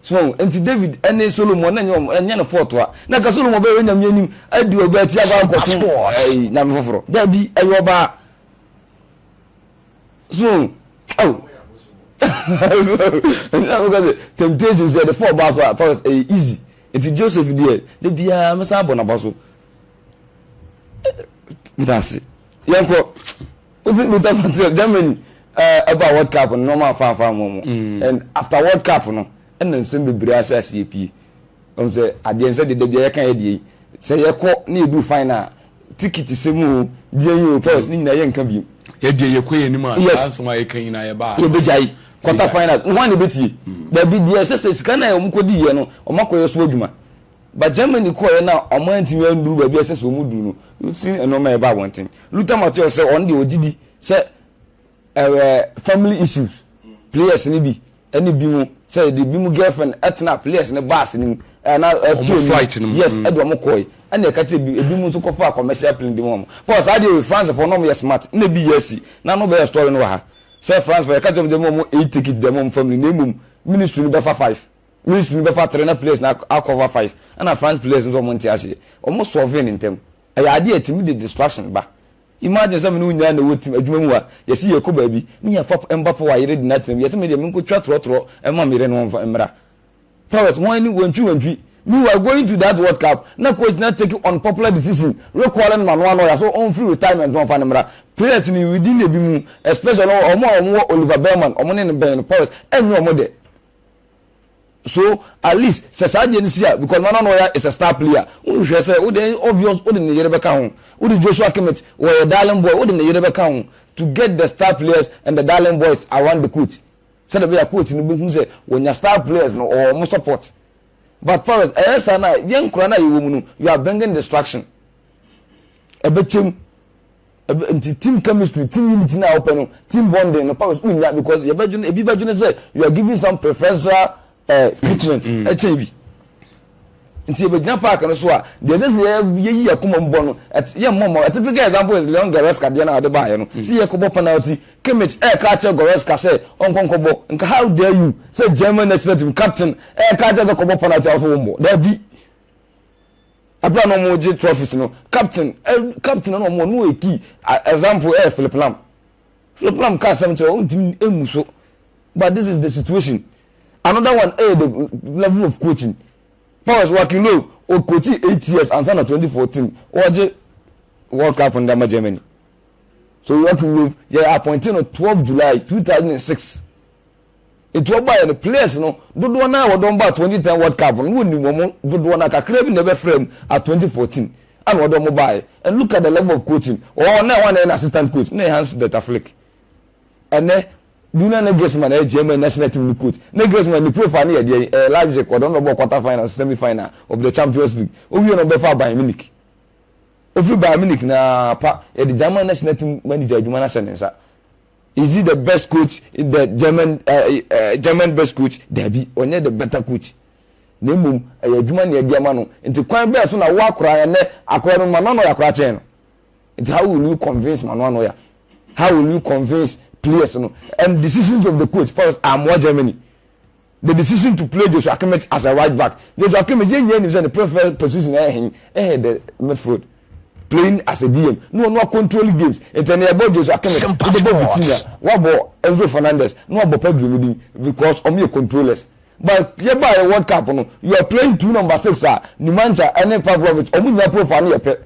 So nti David ne Solomon na nyɛ wɔn nyɛ no fɔɔtoa na ka Solomon bɛyɛ onyame anim adi ɔbaa akyi akɔ akɔsom ɛɛ nyame foforɔ daabi ɛyɛ ɔbaa so ɛw so ɛna mo ka sɛ temptation so ɛde fɔ ɔbaa so a fɔs ɛyɛ easy nti Joseph deɛ de biara mɛsa abɔ n'aba so meda ase yɛnkɔ. Wofi Luther Matthias, Germany, ɛbaa World Cup no nnoɔma a faa faa mɔmɔ and after World Cup no ɛna nsɛm bebree ahyɛ aseɛ pie. Wohu sɛ adeɛ nsɛ deɛ dabia yɛka yɛ deɛ yi sɛ yɛkɔ na yɛduu final a tikiti sɛm o, deɛn o, pɛs ne nyinaa yɛnka biom. Yɛ deɛ yɛkɔ yɛn anim a saa nsɛm a yɛka nyinaa yɛbaa ano. Yɛbɛgyae. Quarter finals no hwan na ɛbɛtie? Dabi, deɛ ɛsɛ sɛ sika no a wɔkɔdiiɛ no wɔakɔyɛ so adwuma. ba Germany kɔeɛ na wɔantumi anduru baabi a ɛsɛ sɛ wɔduru no, wosii nneɛma a ɛba abɔnten. Luther Matthäus sɛ ɔno deɛ ɔgye di sɛ ɛɛ family issues players no bi ɛne bi mu sɛ ɛde bi mu girlfriend ɛtena players no bus no mu ɛɛ na ɛtɔ mu flight no mu yes mm. ɛde wɔn kɔe ɛna ɛka kyerɛ ebi ebi mu nso kɔfa commercial plane de mu wɔn paul saa deɛ oye france fo na wɔn yɛ smart na ebi yɛ asi na no bɛyɛ story no wɔ ha sɛ france fo ɛka kyerɛ wɔn sɛ wɔn eight ticket dɛm wɔn family na emom ministry no bɛfa five. Ministry no bɛfa tre na players no a cover five ɛna France players nso wɔn nte aseɛ wɔn solve no ntɛm ɛyɛ adeɛ a ɛtumi de distraction ba imagine sɛ me ne wo nyinaa na ɛwɔ team adwuma mu a yɛse yɛrekɔ baabi ne yɛfa Mbappe wɔ a yere de no atena mu yɛse me deɛ menkɔ twa torɔtorɔ ɛma me yere no wɔmfa mmra powers wɔn ani wɔntwi wɔntwi meanwhile going to that world cup na coach na take unpopular decision recalling no ma no ano ɔya so ɔmfiri retirement no wɔmfa no mmra players no within ebi mu especially wɔn a wɔn wɔ Oliver Bellman wɔn ne no bɛn no powers ɛnyɛ wɔn dɛ so at least sɛ saa deɛ no si a because Nana Nɔya is a star player wohwehwɛ sɛ wode obvious wode ne yere bɛka ho wode Joshua Kimmich wɔyɛ darling boy wode ne yere bɛka ho to get the star players and the darling boys around the coach sɛdeɛ bɛyɛ coach no bɛhu sɛ wɔnya star players no ɔwɔ wɔn support but Forest ɛyɛ saa na yɛn nkora no a yɛwɔ mu no you are bringing distraction ɛbɛkyɛm Ɛbɛ nti team chemistry, team unity no a wopɛ no, team bonding no purpose wonnya because yɛbɛdwene ebi bɛdwene sɛ you are giving some preferential eh, treatment mm. ɛkyɛn bi nti yɛbɛgyina park no so a deɛ ɛsɛ sɛ yɛyi akoma mu bɔ no yɛmmɔ mmɔ a typical example is leon goreska deɛ no a ɔde baeɛ no sɛ yɛkɔbɔ penalty kimmich ɛɛka akyerɛ goreska sɛ ɔnkɔnkɔbɔ nka how dare you sɛ german national team captain ɛɛka akyerɛ sɛ kɔbɔ penalty a wosɛ wommɔ daabi Ɛberɛ a na wɔregye trophies no, captain ɛ captain na wɔn no yɛ key example ɛyɛ Philip Lam. Philip Lam ka asɛm kyerɛ ɔntumi ɛmu so but this is the situation. Another one ɛyɛ the level of coaching. Powers Wakilo ɔkochi eight years ansa na 2014 wɔregye World Cup no de ama Germany. So Joachim Löw yɛ appointee no 12 July 2006. Enti wɔbaeɛ no, players no dodoɔ no ara a wɔde wɔn baa twenty ten World Cup no, na wɔnim wɔn dodoɔ no ara, kakra bi na ɛbɛfra mu at twenty fourteen a na wɔde wɔn baeɛ. And look at the level of coaching, wɔwɔ hɔ nnɛ, hwan na ɛyɛ n'assistant coach? Na ɛyɛ Hans Dieter Flick. Ɛnnɛ, Julian Nagelsmann ɛyɛ German national team no coach. Nagelsmann ne profile no yɛ deɛn? Ɛyɛ Leipzig, ɔde wɔn bɛbɔɔ quarter final, semi final of the Champions League. Ɔwie no ɔbɛfaa Bayern Munich. Ɔfiri Bayern Munich no ara pa, yɛde German national team manager adwuma no ahyɛ ne nsa. Is he the best coach in the German uh, uh, German best coach? Dabi, ɔnyɛ the better coach. Na mmom ɛyɛ adwuma na ɛde ama no. Nti kwan bɛɛ so na wo akora yɛ nɛ akora no mano ano yɛ akora kyɛn no. Nti how will you convince mano ano yɛ? How will you convince players no? And decisions of the coach, Paul, I'm more Germany. The decision to play Joshua Kimmich as a right back, Joshua Kimmich yɛn nyinaa nim sɛ ne preferred position yɛ hen? Ɛyɛ the midfield, playing as a DM, na ɔno acontrole games, nti ɛnɛ yɛbɔ Joshua Kimmich, wobɛbɔ Vitinha, woabɔ Enzo Fernandez, na woabɔ Pedro no din because wɔn yɛ controllers. But yɛbaeɛ World Cup no, you are playing two number six a, Nemanja ɛne Pavlovic, wɔn nyinaa profile no yɛ pɛ.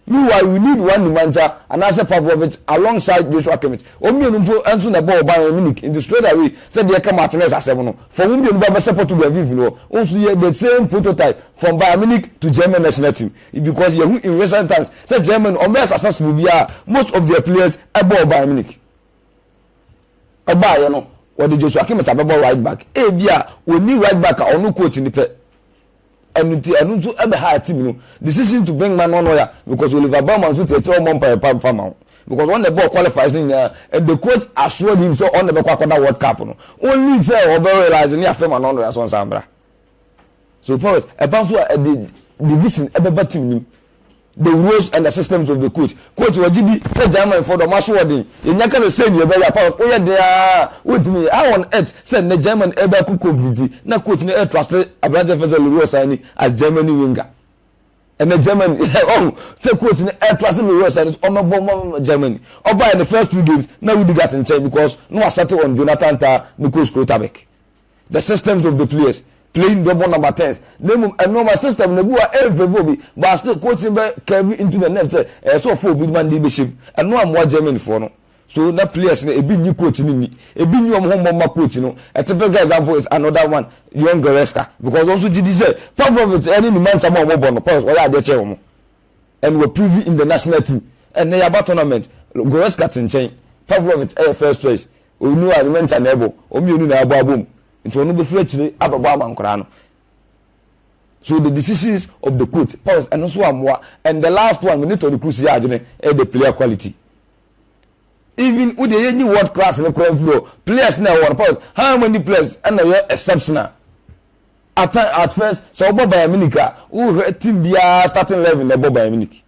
Meanwhile, you need one Nemanja anaasɛ Pavlovic alongside Joshua Kimmich. Wɔn mmienu mpo nso na ɛbɔɔ Bayern Munich nti straight away sɛ deɛ ɛka Martinez asɛm no, fa wɔn mmienu ba bɛsɛ Portugal mfimfini hɔ. Wo nso yɛ the same prototype from Bayern Munich to German national team because yɛahu in recent times sɛ Germany wɔn bɛyɛ successful biara most of their players ɛbɔɔ Bayern Munich. Ɛbaeɛ no wɔde Joshua Kimmich abɛbɔ right back ebia wɔnni right back a ɔno coach no pɛ. Ɛno nti, ɛno nso bɛhaa team no decision to bring Manuel Neuer because Oliver Baumann nso te akyire a ɔmmɔ mpaeɛ pa mfa ma wo because ɔno na ɛbɔɔ qualifiers no nyinaa and the coach assured him sɛ ɔno na ɛbɛkɔ akɔda World Cup no only sɛ ɔbɛ realise ne afe Manuel Neuer so nsan mmra. So Paris, ɛba nso a ɛde division ɛbɛba team no mu. The Rules and the Systems of the Court, Court wɔ gyidi sɛ Germanfoɔ de wɔn asoɔden yɛnya ka sɛ sei ne yɛbɛyɛ a pa wo yɛ den ara a wontumi nyɛ How on earth sɛ nnɛ German reba aku Kobe nti na coach no retruste aberanteɛ fɛ sɛ Leroy Sane as Germany winger ɛnɛ Germany ɔhu sɛ coach no retruste Leroy Sane sɛ ɔmmɛbɔ ma Germany ɔbaeɛ ne first two games na Rudiger te nkyɛn because na wasɛte on Jonathan Tah ne coach Schlotterbeck The systems of the players playing double number tens na mmom ɛno ɔma system na ebu a ɛyɛ favour obi but still coach no bɛ carry into the next sɛ ɛyɛ sɛ ɔfa obi ma ne de bɛhyɛ mu ɛno ammoa Germany foɔ no so na players no ebi nyi coach no nni ebi nyi wɔn ho mmɔ mma coach no a typical example is another one Leon Goretzka because ɔnso gye di sɛ Pavlovic ɛne ne mantam a wɔbɔ no Pavlovic ɔyɛ adeɛ kyɛn wɔn and were proven in the national team ɛnɛ yaba tournament Goretzka te nkyɛn Pavlovic ɛyɛ first choice Onu a nyimɛ nta na ɛbɔ, wɔn mmienu na abɔ abom nti wɔn bɛfiri akyire abɛbɔ ama nkwadaa no. So the decisions of the court pause ɛno nso ammoa and the last one me ne Toni Kroos yɛ adwene ɛyɛ the player quality. Even wo deɛ yɛnyi world class no koraa mfiri hɔ players na ɛwɔ no pause how many players ɛna ɛyɛ exceptional at, at first sɛ wobɔ Bayern Munich a wohwɛ team biara starting eleven na ɛbɔ Bayern Munich.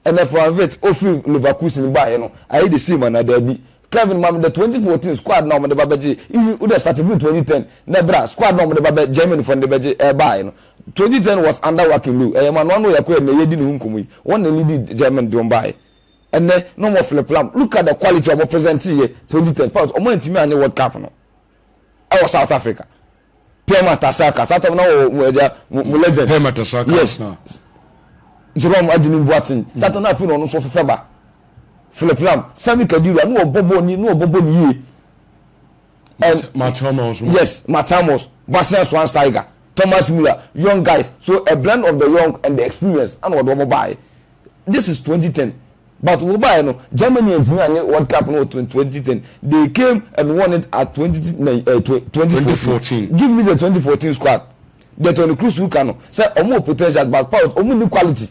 Ɛnna Fran Virt, ofi Leverkusen baeɛ no, ayɛ de siim anaa daabi. Kevin, ma me the twenty fourteen squad no a wɔde ba bɛgyee, ii, wode asate firi twenty ten na bra, squad no a wɔde ba bɛ, Germanyfoɔ no de bɛgye, ɛɛ, baaeɛ no. Twenty ten was under Joachim Loew, ɛyɛ Emmanuel Anno Yakuya a ɛnnɛ yɛredi ne ho nkɔmmɔ yi, wɔn na leadi Germany de wɔn baeɛ. Ɛnnɛ, na wɔn aflip-flam, look at the quality a wɔpresɛnteeɛ twenty ten, but wɔantumi anyɛ World Cup no. ɛwɔ south africa pia matasaka saa tam na wɔ mo agya mo mo legend pia matasaka yes na jerome agye ne mbuaten saa tam na afei na ɔno nso ɔfefɛ ba philip lam sami kadira na ɔbɔ bɔɔl ni na ɔbɔ bɔɔl ni yie matamos yes matamos basia swan tiger thomas miller young guys so a blend of the young and the experience ana ɔde wɔn baayɛ This is twenty ten but wo baeɛ no Germany antumi anye World Cup no wɔ twenty ten they came and won it at twenty nine eh twenty twenty fourteen fourteen give me the twenty fourteen squad deɛ Toni Kroos woka no sɛ wɔn wɔ potentials but Paul wɔn nni quality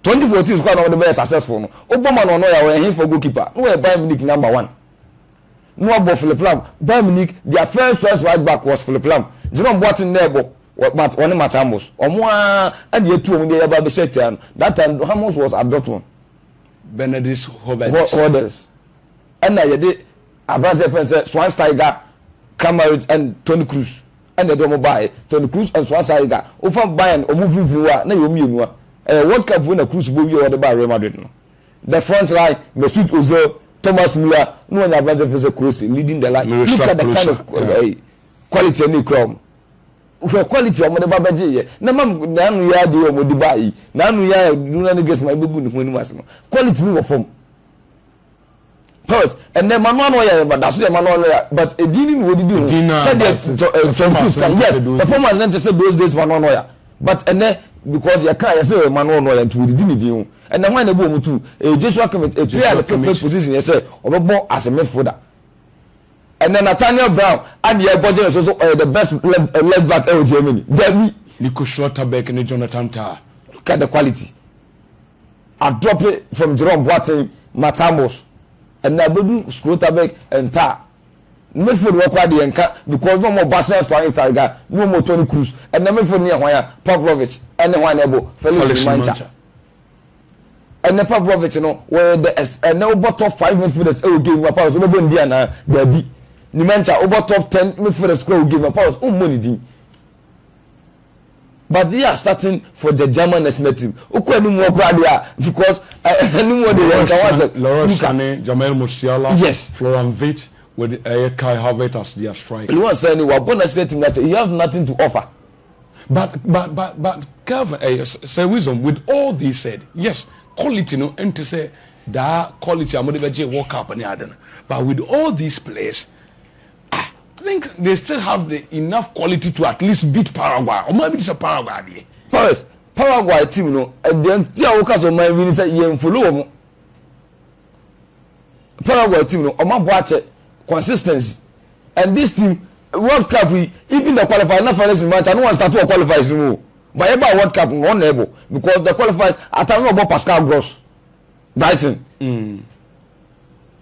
twenty fourteen squad na wɔde bɛyɛ successful no wobɔ ma no a na ɔyɛ a ɔyɛ hefoɔ goalkeeper na ɔyɛ Bayern Munich number one. na wɔbɔ Philip Lahm, Bayern Munich, their first choice right back was Philip Lahm, Jerome Boateng na ɛbɔ wɔne Mats Hummels, wɔn ara na yɛtu wɔn deɛ yɛba abɛhyɛ atia no, that time Hummels was at Dortmund. Bernardus Höwedes ɛna yɛde aberanteɛ fɛn sɛ Schweinsteiger, Kramaric and Toni Kroos ɛna yɛde wɔn baaɛ, Toni Kroos and Schweinsteiger, wofa Bayern wɔn mfinfini hɔ a na yɛ wɔn mmienu a ɛyɛ World Cup wei na Kroos bɔ wie a wɔde baa Real Madrid no. The front line, Mesut Ozil, Thomas Müller na wɔn aberante fɛ sɛ Klose leading the line. Look at the kind of quality ɛna ekura wɔn. Hwɛ quality a wɔde ba bɛgye yɛ. Na mam n'ano yi ade a wɔde ba yi, n'ano yi a Julian Nagelsmann bɛgu ne ho anim ase no, quality no wɔ fam. Pause. Ɛnɛ mmanɔ ano yɛ ba daso yɛ mmanɔ ano yɛ but edin ni na wɔdidi ho sɛdeɛ Tom Cruise kan yes performance ne nte sɛ those days mmanɔ ano yɛ but ɛnɛ because yɛ kan yɛ sɛ yɛ mmanɔ ano yɛ nti wɔdidi ne din ho ɛnɛ hwan na ebu wɔn tu ɛyɛ Joshua Kimmich a player ne fifth position yɛ sɛ ɔbɛbɔ as a midfielder ɛnɛ Nathaniel Brown a ne yɛ gɔgye ne so so ɔyɛ the best left, left back ɛwɔ Germany dabi Nico Schlotterbeck ne Jonathan Tah look at the quality. Adɔpe from Jerome Boateng Matamos ɛna bɛdu Schrotterbeck nta midfield hɔ koraa deɛ nka because na ɔmɔ Bastian Schweinsteiger na ɔmɔ Toni Kroos ɛna midfield ne yɛ hwan a Pavlovic ɛne hwan na ɛbɔ Felix Nmancha ɛnɛ Pavlovic no wɔyɛ the ɛnɛ wobɔ top five midfielders ɛwɔ game mu apart so wobɛbɔ ndi anaa daabi Nmancha wobɔ top ten midfielders koraa wɔ game apart so wommɔ ne din But they are starting for the German national team. Okɔ anim wɔ kura deɛ because anim wɔ deɛ nka wɔn asɛm. Leroy Sané, Jamal Musiala, yes. Florian Wirtz with ɛyɛ Kai Havertz as their striker. Leroy Sané wabɔ national team n'akyɛ he have nothing to offer. But but but but Calvin ɛyɛ sɛ wisdom with all they said yes quality no ɛnte sɛ daa quality a wɔde bɛgye World Cup ne ade no but with all these players Ah I think they still have the enough quality to at least beat Paraguay. Ɔman bi te sɛ Paraguay deɛ. First, Paraguay team no, ɛdeɛ nti a woka sɛ ɔman bi ni sɛ yɛn follow wɔn. Paraguay team no, wɔn abɔ akyɛ consistency. And this team, World Cup yi, even the qualifiers, na finals ni match, ano wɔn start wɔ qualifiers ni mu o. But yɛ ba World Cup no, wɔn na ɛbɔ because the qualifiers, ata na ɔbɔ Pascal Gross, Brighton. Mm.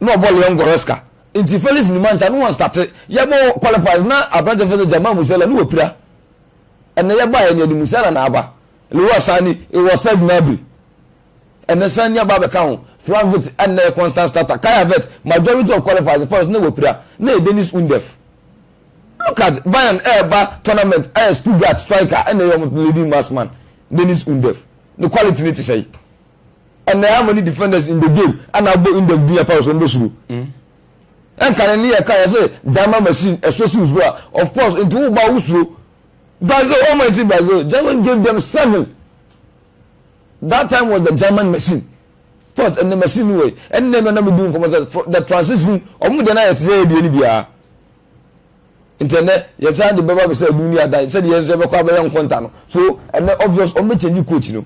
Na ɔbɔ Leon Goretzka, Nti Felix Numa nkyɛn ne wɔn starte yɛ bɔ qualifiers na aberante fɛsɛ Jamal Musiala ne wapira. Ɛnɛ yɛ baeɛ nea de Musiala na aba. Leroy Sane he was Serge Gnabry. Ɛnɛ Sane aba abɛka ho. Frank Vitt ɛnɛ yɛ constant starter. Kai Havertz majority of qualifiers ne Paris ne wapira na yɛ Dennis Undev. Look at Bayern ɛɛba tournament ɛyɛ Stuttgart striker ɛnɛ yɛ wɔn leading mass man Dennis Undev. Ne quality ne te sɛn? Ɛnna ɛyɛ ama ne defenders in the game a na abɔ Indef din apam so no bɛsuro. Ɛnka ne nneyɛɛ ka yɛ sɛ gyama machine ɛsɔ siw so a, of course, nti wo ba a wosuro. Brazil, wɔn man ti Brazil, German gave them seven. That time was the German machine. First, ɛnna machine no wɔ yi. Ɛnna ɛnna na medi nkɔmɔ sɛ for the transition, wɔn deɛ na yɛ te sɛ ɛdeɛ no biara. Nti ɛnɛ yɛsan de bɛba bɛ sɛ ɛdum ne adan sɛdeɛ yɛn nso yɛbɛkɔ abɛyɛ nkonta no. So ɛnɛ obvious wɔn bɛ change coach no.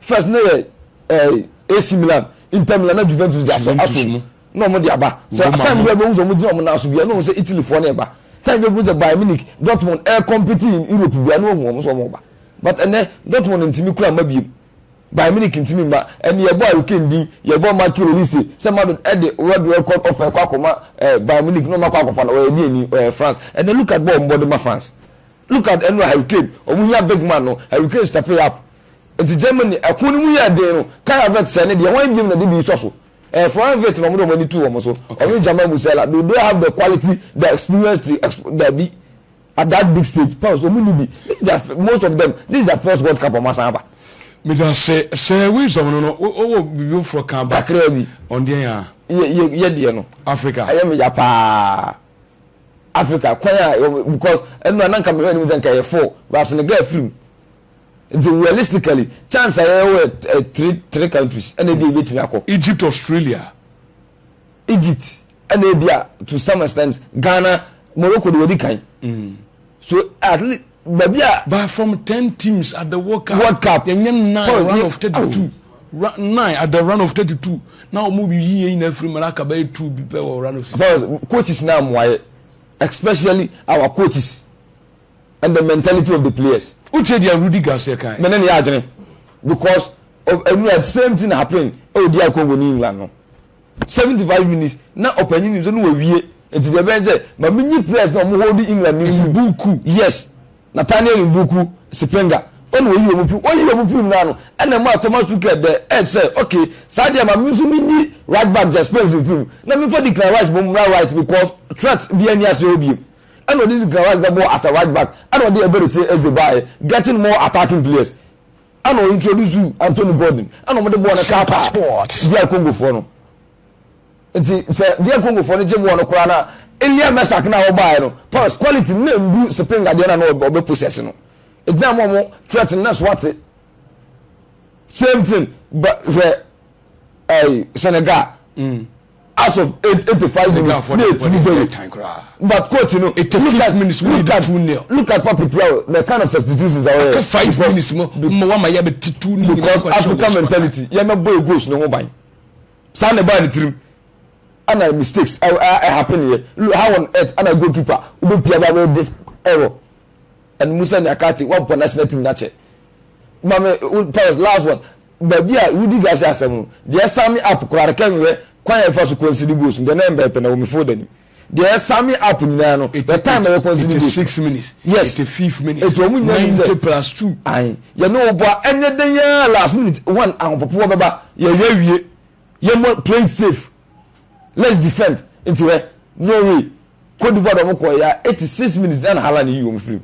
First ne yɛ eh, AC Milan, Inter Milan na Juventus de asɔ aso mu na wɔn de aba. Sɛ time bi a wɔn sɛ wɔn gyina wɔn nan so bi a na wɔn sɛ Italy foɔ na ɛba. Time bi a wɔn sɛ Bayern Munich, Dortmund ɛɛ compete in Europe bi a na wɔn wɔn sɛ wɔn ba. But ɛnɛ Dortmund ntumi kura mma biem. Bayern Munich ntumi mma. Ɛnɛ yɛbɔ Harry Kane din, yɛbɔ Michael Olise sɛ Madrid ɛde world record offer ɛkɔ akɔma ɛɛ eh, Bayern Munich na wɔn akɔ akɔfa no ɔyɛ deɛ ni ɔyɛ France. Ɛnɛ look at bɔ wɔn bɔ de ma France. Look at ɛno Harry Kane wɔn hia big man no Harry Kane step it up. Enti Germany ɛko no mu yɛɛ den no, Kara Wirth sɛɛ ne deɛ hwan biom na de bi sɔ so? Ɛyɛ Frank Wirth na wɔn de wɔn ani too wɔn so. Ɔno ne German Musella. Do do I have the quality, the experience to exp Dabi. At that big stage, France wɔn nni bi. This is their fir most of them, this is their first World Cup wɔn asan aba. Medase sɛ wisdom no no wo wɔ biribi foforɔ ka but Kakraa bi. ɔno deɛ yɛ a. Yɛ yɛ yɛ deɛ no. Africa. Ɛyɛ me ya paa. Africa kwan a because ɛno a na nka mehwɛ anim sɛ nka ɛyɛ four but Senegal firi mu. Nti realistically chance a yɛwɔ yɛ three three countries ɛna ebi a ebetumi akɔ. Egypt Australia. Egypt ɛna ebi a to some extent Ghana Morocco de wɔdi kan. Mm. So at least baabi a. But from ten teams at the World Cup. World Cup. Yɛnyɛ nine round of thirty two. Nine at the round of thirty two. Na wɔn bi yi yɛn nyinaa firi mu na aka bɛyɛ two bi pɛ wɔ round of six. Coaches na amoayɛ especially our coaches. and the mentality of the players. Wo tie deɛ Rudy Garcia kae. Mene ne yɛ adwene because of ɛnu a same thing happen ɛwɔ DR Congo ne England no seventy five minutes na ɔpanyin nim sɛ no wawie nti deɛ ɛbɛn sɛ ma mi nyi players na ɔmo hold England ne nsu. Mbuku. Yes Nathaniel Mbuku Sipinga ɔna oyi ɔmo fi oyi ɔmo fi mu naa no ɛna ɛmaa Thomas Tuchel the edge sɛ okay saa deɛ ma mi nso mi nyi right back Jess Spence nfiri mu na mi nfa Declan Rice mo mmra right because threat bi ɛni ase hɔ biem. Ɛna ɔde Declan Rice bɛbɔɔ as a right back ɛna ɔde Eberechi Eze baeɛ getting more attacking players ɛna ɔ introduce Anthony Gordon ɛna wɔde bɔɔl no taataa DR Congofoɔ no nti sɛ DR Congofoɔ no gye bɔɔl no koraa no a Elia Meschack no a ɔbaeɛ no pass quality no na ɛndu Spinga deɛ na na ɔbɛ possess no ɛgyina mo ɔmo threat no na so ate same thing hwɛ ɛɛ Senegal. Mm. as of eighty five minutes ní etu zero but coach no look at look at look at papi tiaw the kind of substitutions awo yɛ five minutes mo mo wa ma yɛ bɛ ti two ni because african mentality yɛ mɛ bɔ egos ne ho ban saa na ɛbaa ne tirim ɛna mistakes ɛ ɛ happen yɛ how on earth ɛna goalkeeper wo bɛ pia ba bɛ this error ɛna musa nyakate wa bɔ national team na kyɛ maame powers last one Baabi a wodi gase asɛm no, deɛ sign me up koraa no kɛ nhwɛ kwan a yɛfa so consider goals nkɛ na mbɛɛpɛ na wɔ me folder nim deɛ sign me up nyinaa no the time a yɛ consider goals no yes eti ɔmo nyinaa nim sɛ ae yɛne wo boa ɛnyɛ dɛn yaa last minute one ahopopoɔ bɛba yɛyɛ awie yɛ mo play it safe let's defend nti hwɛ Norway Cote d'Ivoire de ɔmo kɔɔ ya 86 minutes na na Haaland yi ɔmo firim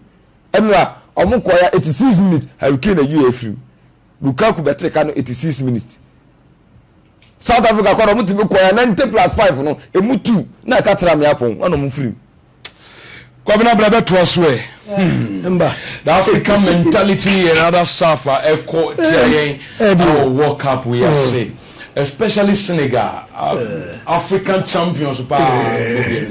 ɛnora ɔmo kɔɔ ya 86 minutes Harry Kane ayi yɛ firim Lukaku bɛtee ka no 86 minutes. South Africa kɔ na ɔmo tumi kɔɛ 90 plus 5 no emu two na ɛka tra mmea pɔn na ɔmo firim. Kwabena bla bɛtoa so ɛ. Hmm. Mba. The African mentality yɛ another stuff a ɛkɔ tia yɛn ɛwɔ World Cup yi ase. Hmm. Especially Senegal, uh, eh. African champions paa. Eh.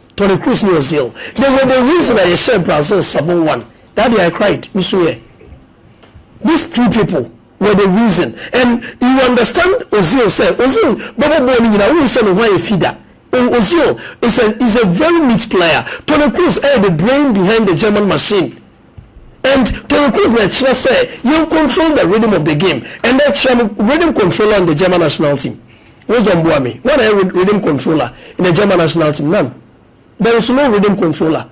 Toni Kroos ne Ozil They were the reason a yɛhyɛɛ Brazil seven one that day I cried me suiɛ These two people were the reason and you understand Ozil sɛ Ozil bɛbɔ bɔɔl no nyinaa wohu sɛ ne ho ayɛ fi da Oh Ozil is a is a very neat player Toni Kroos ɛyɛ the brain behind the German machine And Toni Kroos na ɛkyerɛ sɛ yɛn control the rhythm of the game ɛnɛ kyerɛ me rhythm controller in the German national team Wisdom boa me hwan na ɛyɛ rhythm controller in the German national team none there is no rhythm controller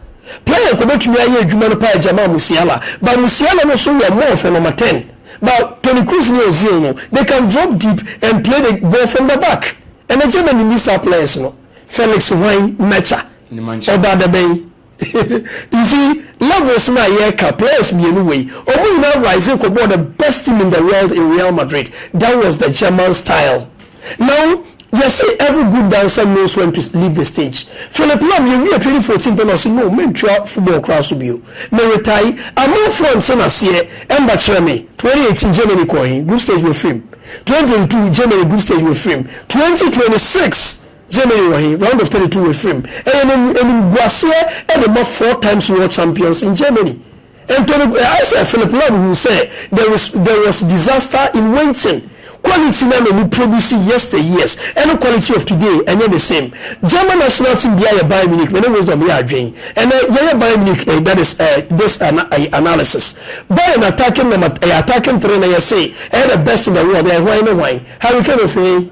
player nka obetumi ayɛ adwuma no paa Jamal Musiala but Musiala no so yɛ more of a number ten but Toni Kroos ne Ozil no they can drop deep and play the ball from the back ɛnɛ Germany nni saa players no Felix hwan Mecha Nemanja. ɔba dabɛn. You see levels no a yɛreka, players mmienu wei, wɔn nyinaa rise kɔbɔɔ the best team in the world in Real Madrid, that was the German style. Now yɛse every good dancer knows when to leave the stage. Philip Lahm yɛwiee twenty fourteen pɛ na ɔse no mentoa football koraa so bio, me retae, amanfoɔ nte no aseɛ, ɛmma kyerɛ me, twenty eighteen Germany kɔɔ he? Group stage wafiri mu, twenty twenty two Germany group stage wafiri mu, twenty twenty six Germany wɔ he? Round of thirty two wɔ afiri mu. Ɛyɛ no animguaseɛ de ma four times world champions in Germany. Anthony, ayɛ sɛ Philipp Lahm huu sɛ there is there was disaster in waiting. Quality no a na ɔmo produce yester years ne quality of today ɛnyɛ the same. German national team biara yɛ Bayern Munich, me ne Wisdom yɛ adwen ɛnɛ yɛyɛ Bayern Munich eh, that is eh, this ana eh, analysis. Bayern attacking number eh, attacking three na yɛse ɛyɛ the best in the world, ɛyɛ hwan ne hwan? Harry Kane ofiri he?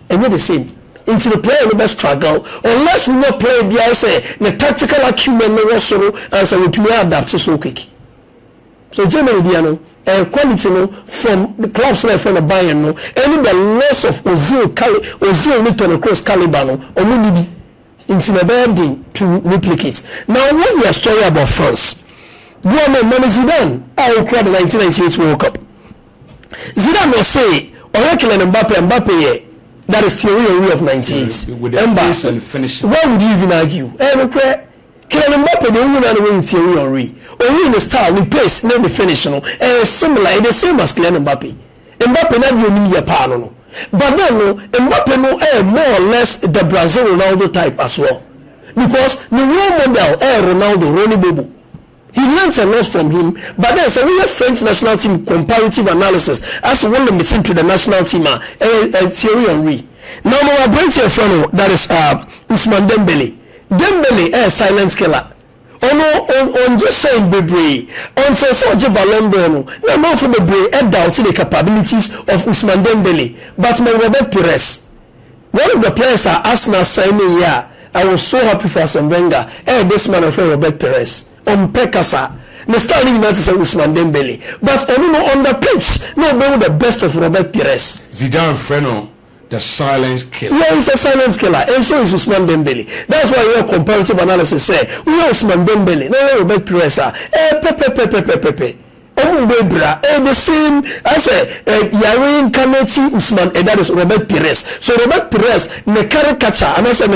Ɛnyɛ the same nti no player no bɛ struggle unless wo nya player bi ayɛ sɛ ne tactical acumen no wɔ soro ansa watumi a adapt so quick. So Germany deɛ no ɛyɛ quality no from the clubs no a yɛfrɛ no Bayern no ɛne the loss of Ozil cali Ozil ne Toni Kroos calibre no ɔmo nni bi nti na ɛbɛyɛ den to replicate. Na wo yɛ story about France boa me ma me Zidane a okura the nineteen ninety eight world cup Zidane ɔsee ɔyɛ Kylian Mbappe a Mbappe yɛ that is Thierry Henry of 98 ɛmba why would you even argue ɛyɛ nokorɛ Kylian Mbappe deɛ wohu naa na woahu Thierry Henry ɔhu ne style ne pace ne ne finish no ɛyɛ similar ɛyɛ the same as Kylian Mbappe Mbappe n'adeɛ onim yɛ paa no no but then no Mbappe no ɛyɛ more or less the Brazil Ronaldo type as well because ne role model ɛyɛ Ronaldo Rony Bobo He learnt a lot from him but then sɛ woyɛ French national team comparative analysis ase wo limit into the national team a ɛyɛ Thierry Henry na ɔma wɔ aberanteɛ a yɛfrɛ no that is Ousmane Dembele Dembele ɛyɛ silent killer ɔno ɔngye hyɛn bebree until sɛ ɔgye Ballon d'Or no na amanfoɔ bebree doubt the capabilities of Ousmane Dembele but Mangorbet Pires One of the players a Arsenal sign no year a I was so happy for Arsene Wenger ɛyɛ this man a wɔfrɛ no Robert Pires. Ɔmpɛ kasa. Ne style no nyinaa te sɛ Ousmane Dembele but ɔno no on the pitch na wobɛhu the best of Robert Pires. Zidane frɛ no the silent killer. Yeah, he's a silent killer and so is Ousmane Dembele. That's why yɛyɛ comparative analysis sɛ woyɛ Ousmane Dembele na woyɛ Robert Pires a, ɛyɛ pɛpɛpɛpɛpɛpɛpɛ. Ɔmo mbɔ ebira ɛyɛ the same ayɛ sɛ yare nka no ti Usman that is Robert Pires so Robert Pires ne carry catcher anaa sɛ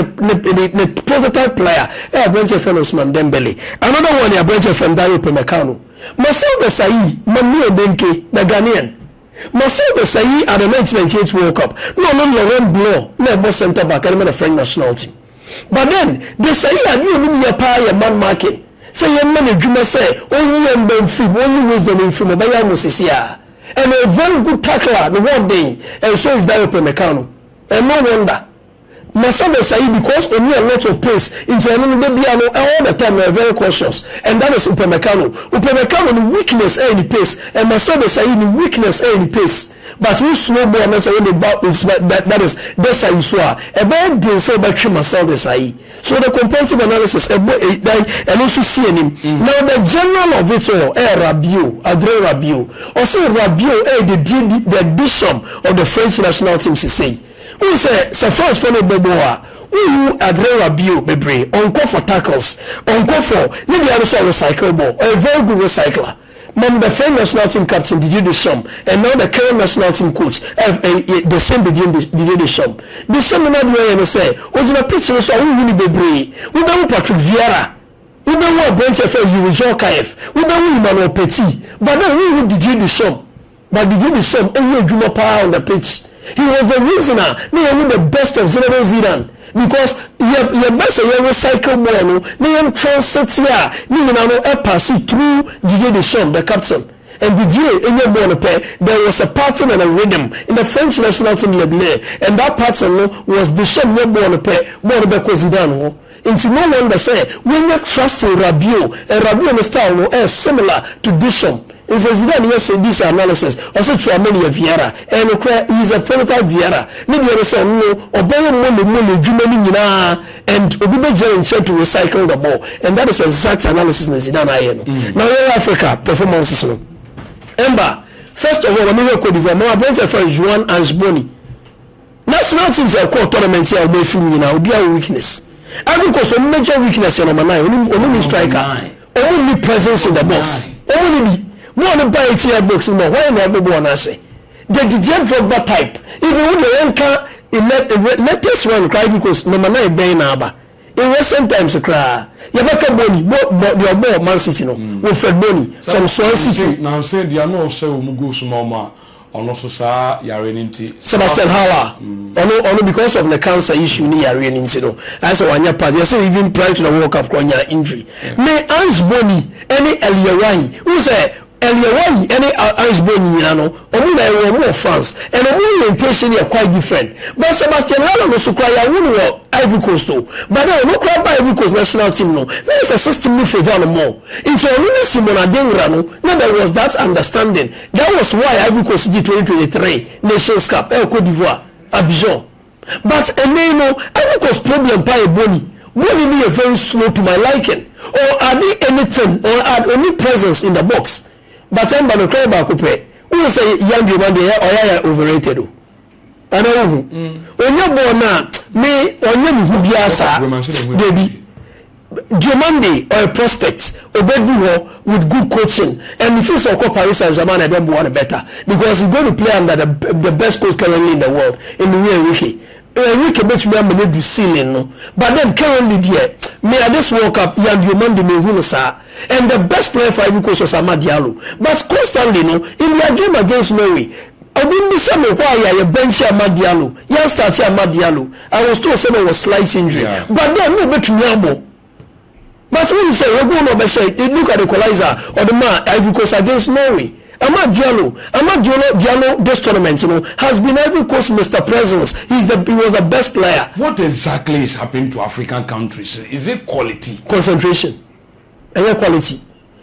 ne prototype player ɛyɛ aberanteɛ yɛfrɛ no Usman Dembele another one yɛ aberanteɛ yɛfrɛ no Dayot Upamecano Marcel Desailly Manuel Denke the Ghanaian. Marcel Desailly a na 1998 World Cup na ɔno ne Laurent Blanc na ɛbɔ centre back de ma no French national team. But then, Desailly ade a ɔnim yɛ paa yɛ man marking, sɛ yɛmma no adwuma sɛ ɔnyi yɛn mma mfiri mu, ɔnyi wisdom mfiri mu, ɔbɛyɛ anwo sɛsi ara. And ɔyɛ very good tackler, ne ho ɔden and so is Diop and Meccano and no wonder Na sɛ bɛ sayi because ɔni a lot of pace nti ɛno no da biaa no all the time no ɔyɛ very cautious and that is Upamecano. Upamecano ne weakness ɛyɛ ne pace and Mercedes ayi ne weakness ɛyɛ ne pace but wo slow ball no sɛ wode ba Ousmane da that is Desailly so a ɛbɛyɛ den sɛ wobɛtwe Mercedes ayi so the comparative analysis ɛbɔ ɛyi dan ɛno nso si anim. Now the general of it all ɛyɛ Rabiot, Adrien Rabiot. Ɔse Rabiot ɛyɛ the the addition of the French national team sesei. Wohu sɛ sɛ France foɔ no bɔ bɔɔl a wonhu Adrewa bio bebree, ɔnkɔ for tackles, ɔnkɔ for, ne dea no nso ɔre cycle bɔɔl, ɔyɛ very good recycler. Mom the friend national team captain Didier Deschamps and now the current national team coach ɛf ɛy the same Didier Didier Deschamps. Deschamps no n'adeɛ ɔyɛ ne sɛ ɔgyina pitch no so a wonhu no bebree, wobɛhu Patrick Vieira, wobɛhu aberanteɛ a yɛfrɛ no Youri Djorkaeff, wobɛhu Emmanuel Petit but then wonhu Didier Deschamps. But biribi ne sɛm ɛyɛ adwuma paa on the pitch he was the reason a na yɛhu the best of Zinedine Zidan because yɛ yɛbɛ sɛ yɛ recycle bɔɔl no na yɛn transite a ne nyina no ɛpaase through Didier Deschamps the captain and Didier ɛnya bɔɔl no pɛ there was a pattern and a rhythm in the French national team leble and that pattern no was Deschamps nya bɔɔl no pɛ bɔɔl no bɛkɔ Zidan hɔ Nti no wonder sɛ w'anya trust in Rabio and Rabio ne style no ɛyɛ similar to Bishom nse Zidane yɛ se this analysis ɔse Tchouameni yɛ Vieira ɛyɛ nokorɛ he is a prototype Vieira ne deɛ ne sɛ ɔno no ɔbɛyɛ mole mole dwuma no nyinaa and obi bɛgyina ne nkyɛn to recycle the ball and that is exact analysis na Zidane ayɛ no na yɛn Africa performances no ɛmba first of all ma me hwɛ Cote d'Ivoire ma aberanteɛ a yɛfrɛ no Juan Ange Bony National teams a ɛkɔɔ tournament a wɔn afiri mu nyinaa obiara wɔ weakness. Ivory Coast wɔn major weakness yɛ number nine wɔn wɔn ni striker wɔn ni presence in the box wɔn ni bi bɔɔl no ba eighteen yard box no mu a wɔn na ɛbɔ bɔɔl no ahyɛ the Didier Drogba type even wo deɛ yɛn ka latest one koraa Ivory Coast number nine bɛn na aba in recent times koraa yɛbɛka Bony bɔ bɔ deɛ ɔbɔ Man City no Wilfred Bony from Swansea City. Nanse deɛ na ɔhyɛ wɔn goals ma wɔn a Ɔno so saa yareɛ no nti. Sebastian Haller ɔno ɔno because of ne cancer issue ne yareɛ no nti no ayɛ sɛ wanyɛ part yɛsɛ even prior to the world cup koraa ɔnyaa injury ne Ange Boni ɛne El Yawahi wohu sɛ El Yawahi ɛne Ange Boni nyinaa no ɔmo nyinaa yɛwɔ ɔmo wɔ France and ɔmo orientation no yɛ quite different but Sebastian Haller no so koraa yɛawo no wɔ Ivory Coast o but then ɔno koraa ba Ivory Coast national team no na ayɛ sɛ system no favour no more nti ɔno ne Simon Adingra no na there was that understanding That was why Ivory Coast gyee twenty twenty three Nations Cup ɛwɔ Cote d'Ivoire, Abidjan. But ɛnnɛ yi no, Ivory Coast problem paa yɛ bɔɔli. Bɔɔli no yɛ very slow to my liking. Ɔn ade anything, ɔn ad, ɔnni presence in the box. But ɛmba no, cry baako pɛ. Wohu sɛ Yan Giriband deɛ, ɔyɛ ayɛ overrated o. Ana wohu? Ɔnyɛ bɔɔ no a, me, ɔnyɛ me hu biara saa. Dabi. Diomande, ɔyɛ prospect. Ɔbɛdu hɔ with good coaching. And mefeel sɛ ɔkɔ Paris Saint-Germain na ɛbɛboa no better. Because he's going to play under the the best coach currently in the world, Enrique Enrique. Enrique bɛtumi ama no adu ceiling no. But then currently deɛ, me at this World Cup, Yan Diomande, menhu no saa. And the best player for Ivory Coast was Amad Diallo. But constantly no, in their game against Norway, Obi mbisa me why a yɛ bɛnkye Amad Diallo, yɛan starte Amad Diallo, I was told sɛ na ɔwɔ slight injury but then na obetumi abɔ but wonim sɛ ɔyɛ goal na ɔbɛhyɛ it look at equalizer a ɔde maa Ivory Coast against Norway. Amad Diallo, Amad Diolo Diallo this tournament no has been Ivory Coast Mister Presence, he is the he was the best player. What exactly is happening to African countries, is it quality? Concentration, ɛnyɛ quality.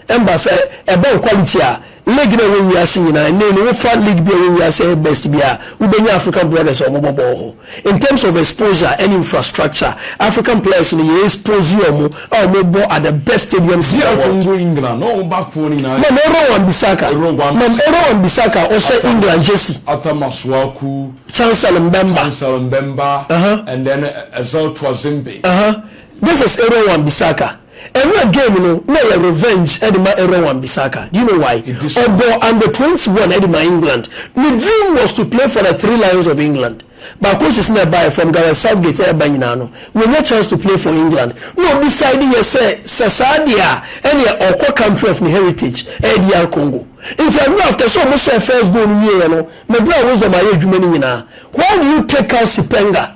Ɛmba sɛ ɛbɛn quality a league no a ɛwɔ wiase nyinaa nnɛyi no wofa league bi a ɛwɔ wiase a ɛyɛ best bi a wobɛnya African brothers a wɔbɔ bɔɔl hɔ. In terms of exposure ɛne infrastructure African players no yɛ expose wɔn a wɔbɔ at the best stadiums in the world. Mam Aaron Wan-Bissaka Mam Aaron Wan-Bissaka a ɔhyɛ England jersey. Arthur Masuaku. Chancel Mbemba. Chancel Mbemba. Uh-huh. And then Ezel Twazimbe. Uh-huh. This is Aaron Wan-Bissaka. Ɛnora game no na ɛyɛ revenge ɛde ma Aaron Wan Bissaka, do you know why? Ɔbɔɔ under twenty one ɛde ma England. Ne dream was to play for the three lions of England but coaches na ɛbaeɛ from Gareth Southgate ɛɛba nyinaa no wanya chance to play for England na ɔdecide yɛ sɛ sɛ saa deɛ a ɛneɛ ɔɔkɔ country of ne heritage ɛyɛ DR Congo. Nti ɛnora after sɛ ɔmo hyɛɛ first goal no wieɛ no me bra Wisdom ayɛ adwuma no nyinaa why do you take out Sipenga?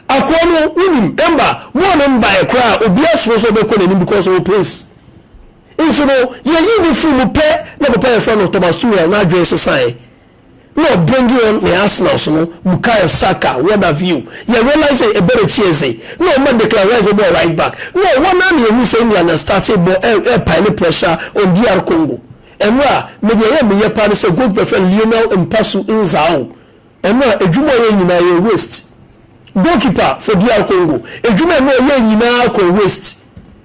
Akoa no wonim mba mo a ne mba ɛ koraa obia suro sɛ ɔbɛkɔ n'anim because ɔwɔ pace nti no yɛyii no firi mu pɛ na papa yɛfrɛ no Thomas Tuchel no adwen sesaeɛ na ɔ bringing on ne Arsenals no Bukayo Saka what have you yɛ realise sɛ Eberechi Eze na ɔma Declan Rice bɛbɔɔ right back na ɔwɔ no a na yɛhunu sɛ England a starte bɔ ɛ ɛ pile pressure on DR Congo ɛno a me deɛ yɛ meyɛ paa ne sɛ goalkeeper fɛ no Lionel Mpasu Nzau Ɛno a edwuma ɔyɛ nyinaa yɛ waste. Goal keeper for DR Congo edwuma ɛno ɔyɛɛ nyinaa kɔɔ waste.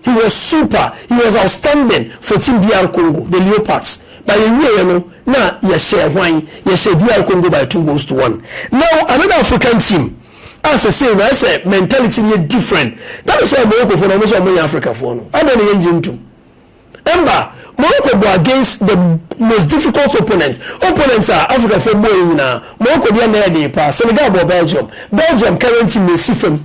He was super, he was outstanding for team DR Congo, the Leopards. But yɛwieɛ no na yɛhyɛɛ hwan? Yɛhyɛɛ DR Congo by two goals to one. Now another African team a sɛsei no ayɛ sɛ mentality no yɛ different. That is why Moroccofoɔ no wɔn sɛ wɔn nyɛ Africafoɔ no. Adɛn na yɛngye ntom? Ɛmma Morocco bɔ against the most difficult opponent, opponent a Afrikafoɔ bɔɔyɛ nyinaa, Morocco deɛ na ɛyɛ den paa, Senegal bɔɔ Belgium, Belgium current team no si fam,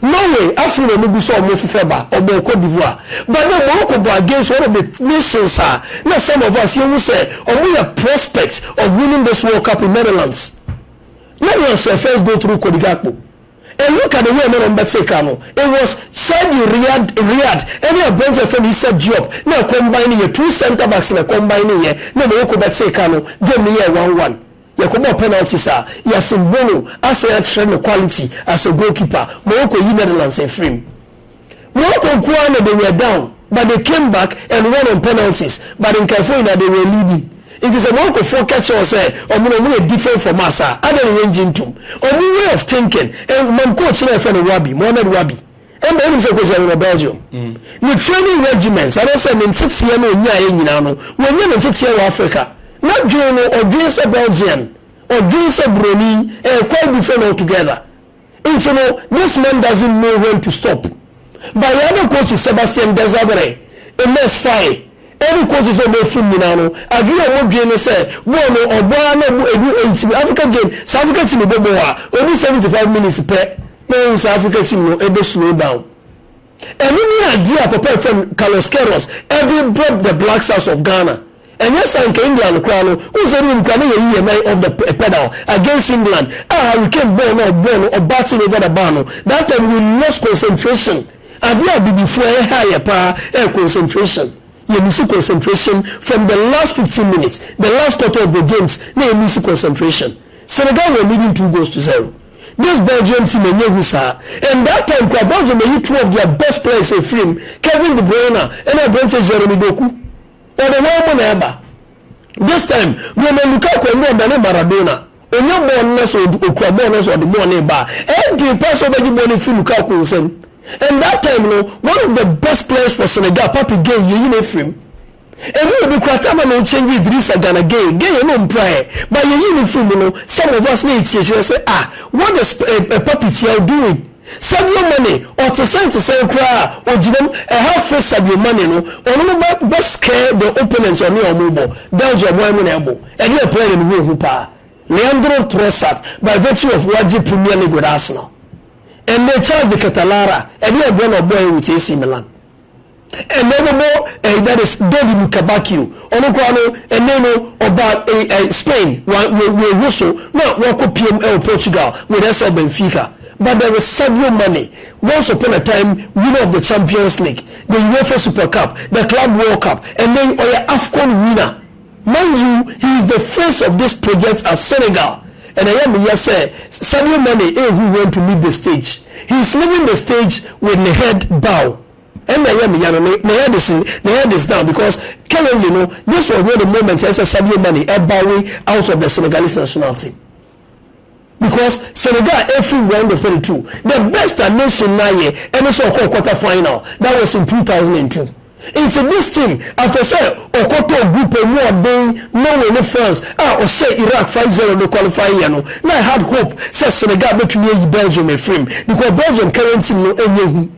Norway afei na wɔn gu so a wɔn fefɛ ba, ɔbɔɔ Cote d'Ivoire, but na Morocco bɔ against one of the nations a na some of us yɛhu sɛ wɔn yɛ prospect of winning this World Cup in Netherlands, Netherlands hyɛɛ first goal through Cody Gakpo. And look at the way a na wɔn bɛte ka no, it was Shaibu Riyad Riyad ɛne aberante a yɛfrɛ no Issa Diop na ɛkɔmbae no yɛ, two centre backs na ɛkɔmbae no yɛ na wɔn ko bɛtee ka no, game no yɛɛ one one. Yɛkɔbɔɔ penalties a, Yasin Bono asan akyerɛ ne quality as a goalkeeper ma wɔkɔyi Netherlands afiri mu. Morocco nko ara na they were down but they came back and won on penalties but nkaefo nyinaa they were leading nti sɛ Morocco foɔ ka kyerɛ wo sɛ ɔmo no ɔmo yɛ different from us a adɛn na yɛngye ntom ɔmo way of thinking and mam coach no a yɛfrɛ no Wabi Mohamed Wabi ɛmma wonim sɛ coach no wɔ Belgium ne training regiments anaasɛ ne nteteɛ no ɔnyaeɛ nyinaa no wɔnya ne nteteɛ wɔ Africa n'adwene no ɔdwen sɛ Belgian ɔdwen sɛ Buroni ɛyɛ quite different altogether. Nti no this man doesn't know when to stop but yɛa na coach Sebastian Desabre, Ines Faye ɛne coaches a ɔmo afum nyinaa no adwene a ɔmo dwen ne sɛ bɔɔl no ɔbɔ ara na ɔmo ɛduru eighty min Africa game sɛ Africa team bɔ bɔɔl a ɔdu seventy five minutes pɛ na wahu sɛ Africa team no ɛbɛ slow down Ɛno ne adeɛ a papa a yɛfrɛ no Carlos Queiroz de brɛ the Black Stars of Ghana. Ɛnyɛ saa anka England koraa no, wohu sɛ ne wɔn koraa na yɛyi yɛn nan off the pedal against England a Harry Kane bɔɔl no a ɔbɔɔ no ɔbatting over the bar no, that time we lost concentration. Adeɛ a Abibifoɔ a ɛha yɛ paa yɛ concentration. Yɛ lose concentration from the last fifteen minutes, the last quarter of the games na yɛ lose concentration. Senegal were leading two goals to zero. This Belgium team ɛnyɛ hu saa and that time koraa Belgium ayi two of their best players afiri mu, Kevin De Bruyne ɛna aberanteɛ Jeremy Doku. Wɔde wɔn mo na ɛba. This time Romelu Lukaku ɛnyɛ ɔdane Maradona. Ɔnya bɔɔl no na sɛ ɔkura bɔɔl no na sɛ ɔde bɔɔl no reba a, ɛyɛ den paa sɛ wobɛgye bɔɔl no afiri Lukaku nsam. And that time no, one of the best players for Senegal, Pape Gueye, yɛyi no afiri mu. Emu wɔ bi koraa taa ma no change Idrissa Gana Gueye, Gueye no mpra ɛ, but yɛyii no firi mu no, some of us na yɛkyiakyia sɛ ah, what is Papi Thiaw doing? Sadio Mane ɔte sɛn te sɛn koraa a ɔgyina mu, ɛha fɛ Sadio Mane no, ɔno no bɛ bɛ scare the opponents ɔne wɔn rebɔ, Belgium wɔn na ɛbɔ, ɛne yɛ player na mehu wɔn ho paa, Leandro Trossard by virtue of wagye Premier League with Arsenal, ɛnnɛ Charles de Ketelara, ɛne yɛ boɔ na ɔbɔeɛ with AC Milan. Ɛnna ɔbɛbɔ ɛyi that is Dodi Lukebakio ɔno koraa no ɛnne no ɔba ɛyi ɛyi Spain wa wɔ wɔahu so na wakɔ pm ɛwɔ Portugal with SL Benfica but there is Sadio Mane once upon a time winner of the Champions League the UEFA Super Cup the Club World Cup ɛnne yi ɔyɛ Afcon winner Mind you he is the face of this project at Senegal and ɛyɛ me ya sɛ Sadio Mane rehu when to leave the stage. He is leaving the stage with ne head bow ɛna ɛyɛ me ya no ne ne head is ne head is down because currently no this was not the moment ɛsɛ Sadio Mane ɛbowing out of the Senegalese national team. Because Senegal firi round of thirty two the best a nation no ayɛ ɛne sɛ ɔkɔɔ quarter final that was in two thousand and two nti this team after sɛ ɔkɔtɔɔ group a ɛmu ɔden Norway ne France a ɔhyɛɛ Iraq five zero no qualify yɛ no na I had hope sɛ Senegal bɛtumi ayi Belgium afirim because Belgium current team no ɛnyɛ hu.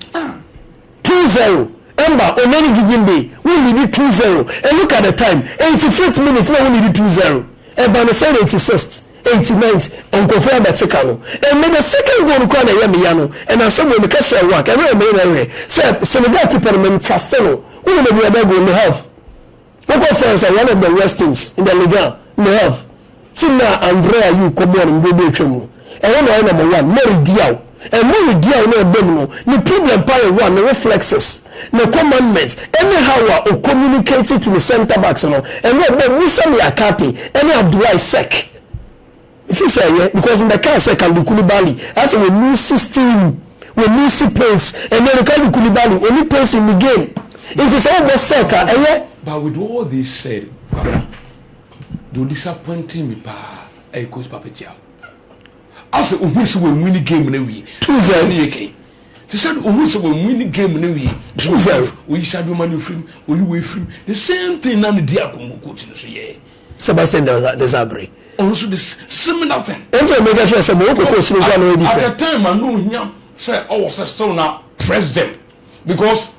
Two zero mba o many giving day wo leadi two zero and look at the time eighty fifth minute na wo leadi two zero ɛba no sɛn eighty sixth eighty ninth nkorɔfoɔ abɛte ka no ɛnɛ the second goal no koraa na ɛyɛ me ya no ɛna asɛm wei meka hyɛɛ Wack ɛno na ɛmeyɛ na ɛhwɛ sɛ Senegal keeper no mentraste no wo nim aduaba goal no half Wokɔ France sɛ one of the worst teams in the Ligue one, Le Havre. Team no a Andre Ayew kɔbɔɔ no mberɛ bi a atwam no, ɛhɔ na ɔyɛ number one. Mary Diaw. And Mary Diaw no a ɔba mu no, ne problem paa yɛ one, ne wo flexes, ne commandment, anyhow a ɔ communicate to ne centre backs no, ɛno a ɔbɔ Moussa Niakhaté ne Abdoulaye Seck. Fi sɛ yɛ because mbɛ kaa sɛ Kalidou Koulibaly asɛ wɔ lusi steam wɔ lusi pace ɛnɛ no Kalidou Koulibaly ɔni pace in the game nti sɛ ɔbɔ sɛk a ɛyɛ. But with all this said Kwabena deɛ ɔdisappointing me paa ɛyɛ coach Pape Thiaw asɛ ɔhui sɛ wɔ win game no awie true sɛ ɛne yɛ kɛn te sɛ ɔhui sɛ wɔ win game no awie true sɛ ɔyi Sadio Mane firim ɔyi wei firim the same thing na ne di akongo coach no so yɛɛ. Sebastian Desabre. Ɔno nso de sim nothing. Ɛnti na meka kyerɛ sɛ mo koko osiri nkoa na ɔyɛ different. At a time a no hia sɛ ɔwɔ sɛ still na press them because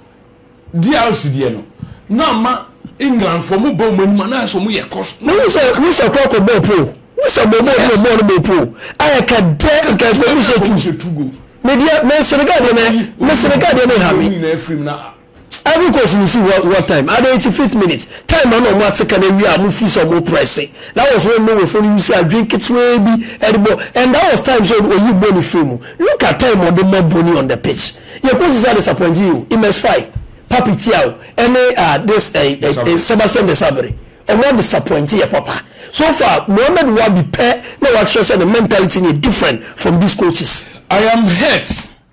DRC deɛ no na ama England for mo ba ɔmo anim na ɛsɛ ɔmo yɛ kɔs. Na ɔmo sɛ ɔmo sɛ kɔ kɔ bɔ po ɔmo sɛ mo mo ɔmo ɔmo ɔmo bɔ po a ɛka dɛ nka ɛkɔ mo sɛ tu. Media me Senegal deɛ me me Senegal deɛ me ha me. Ivory Coast no si hɔ one time adan nti fifth minute time ma na ɔmo ate ka no awie a ɔmo fii sɛ ɔmo prɛse that was when Norwayfoɔ no use adwene ketewaa bi ɛde bɔ and that was time sɛ ɔyi Bony firi mu look at time ɔde ma Bony on the pitch yɛ coaches a disappoint yi o Imez Faye Papi Thiaw ɛne ah this eh Sebastian Desabre ɔmo a disappoint yɛ papa so far Mohamed Wabi pɛ na wakyerɛ sɛ ne mentality no yɛ different from this coaches. I am hurt.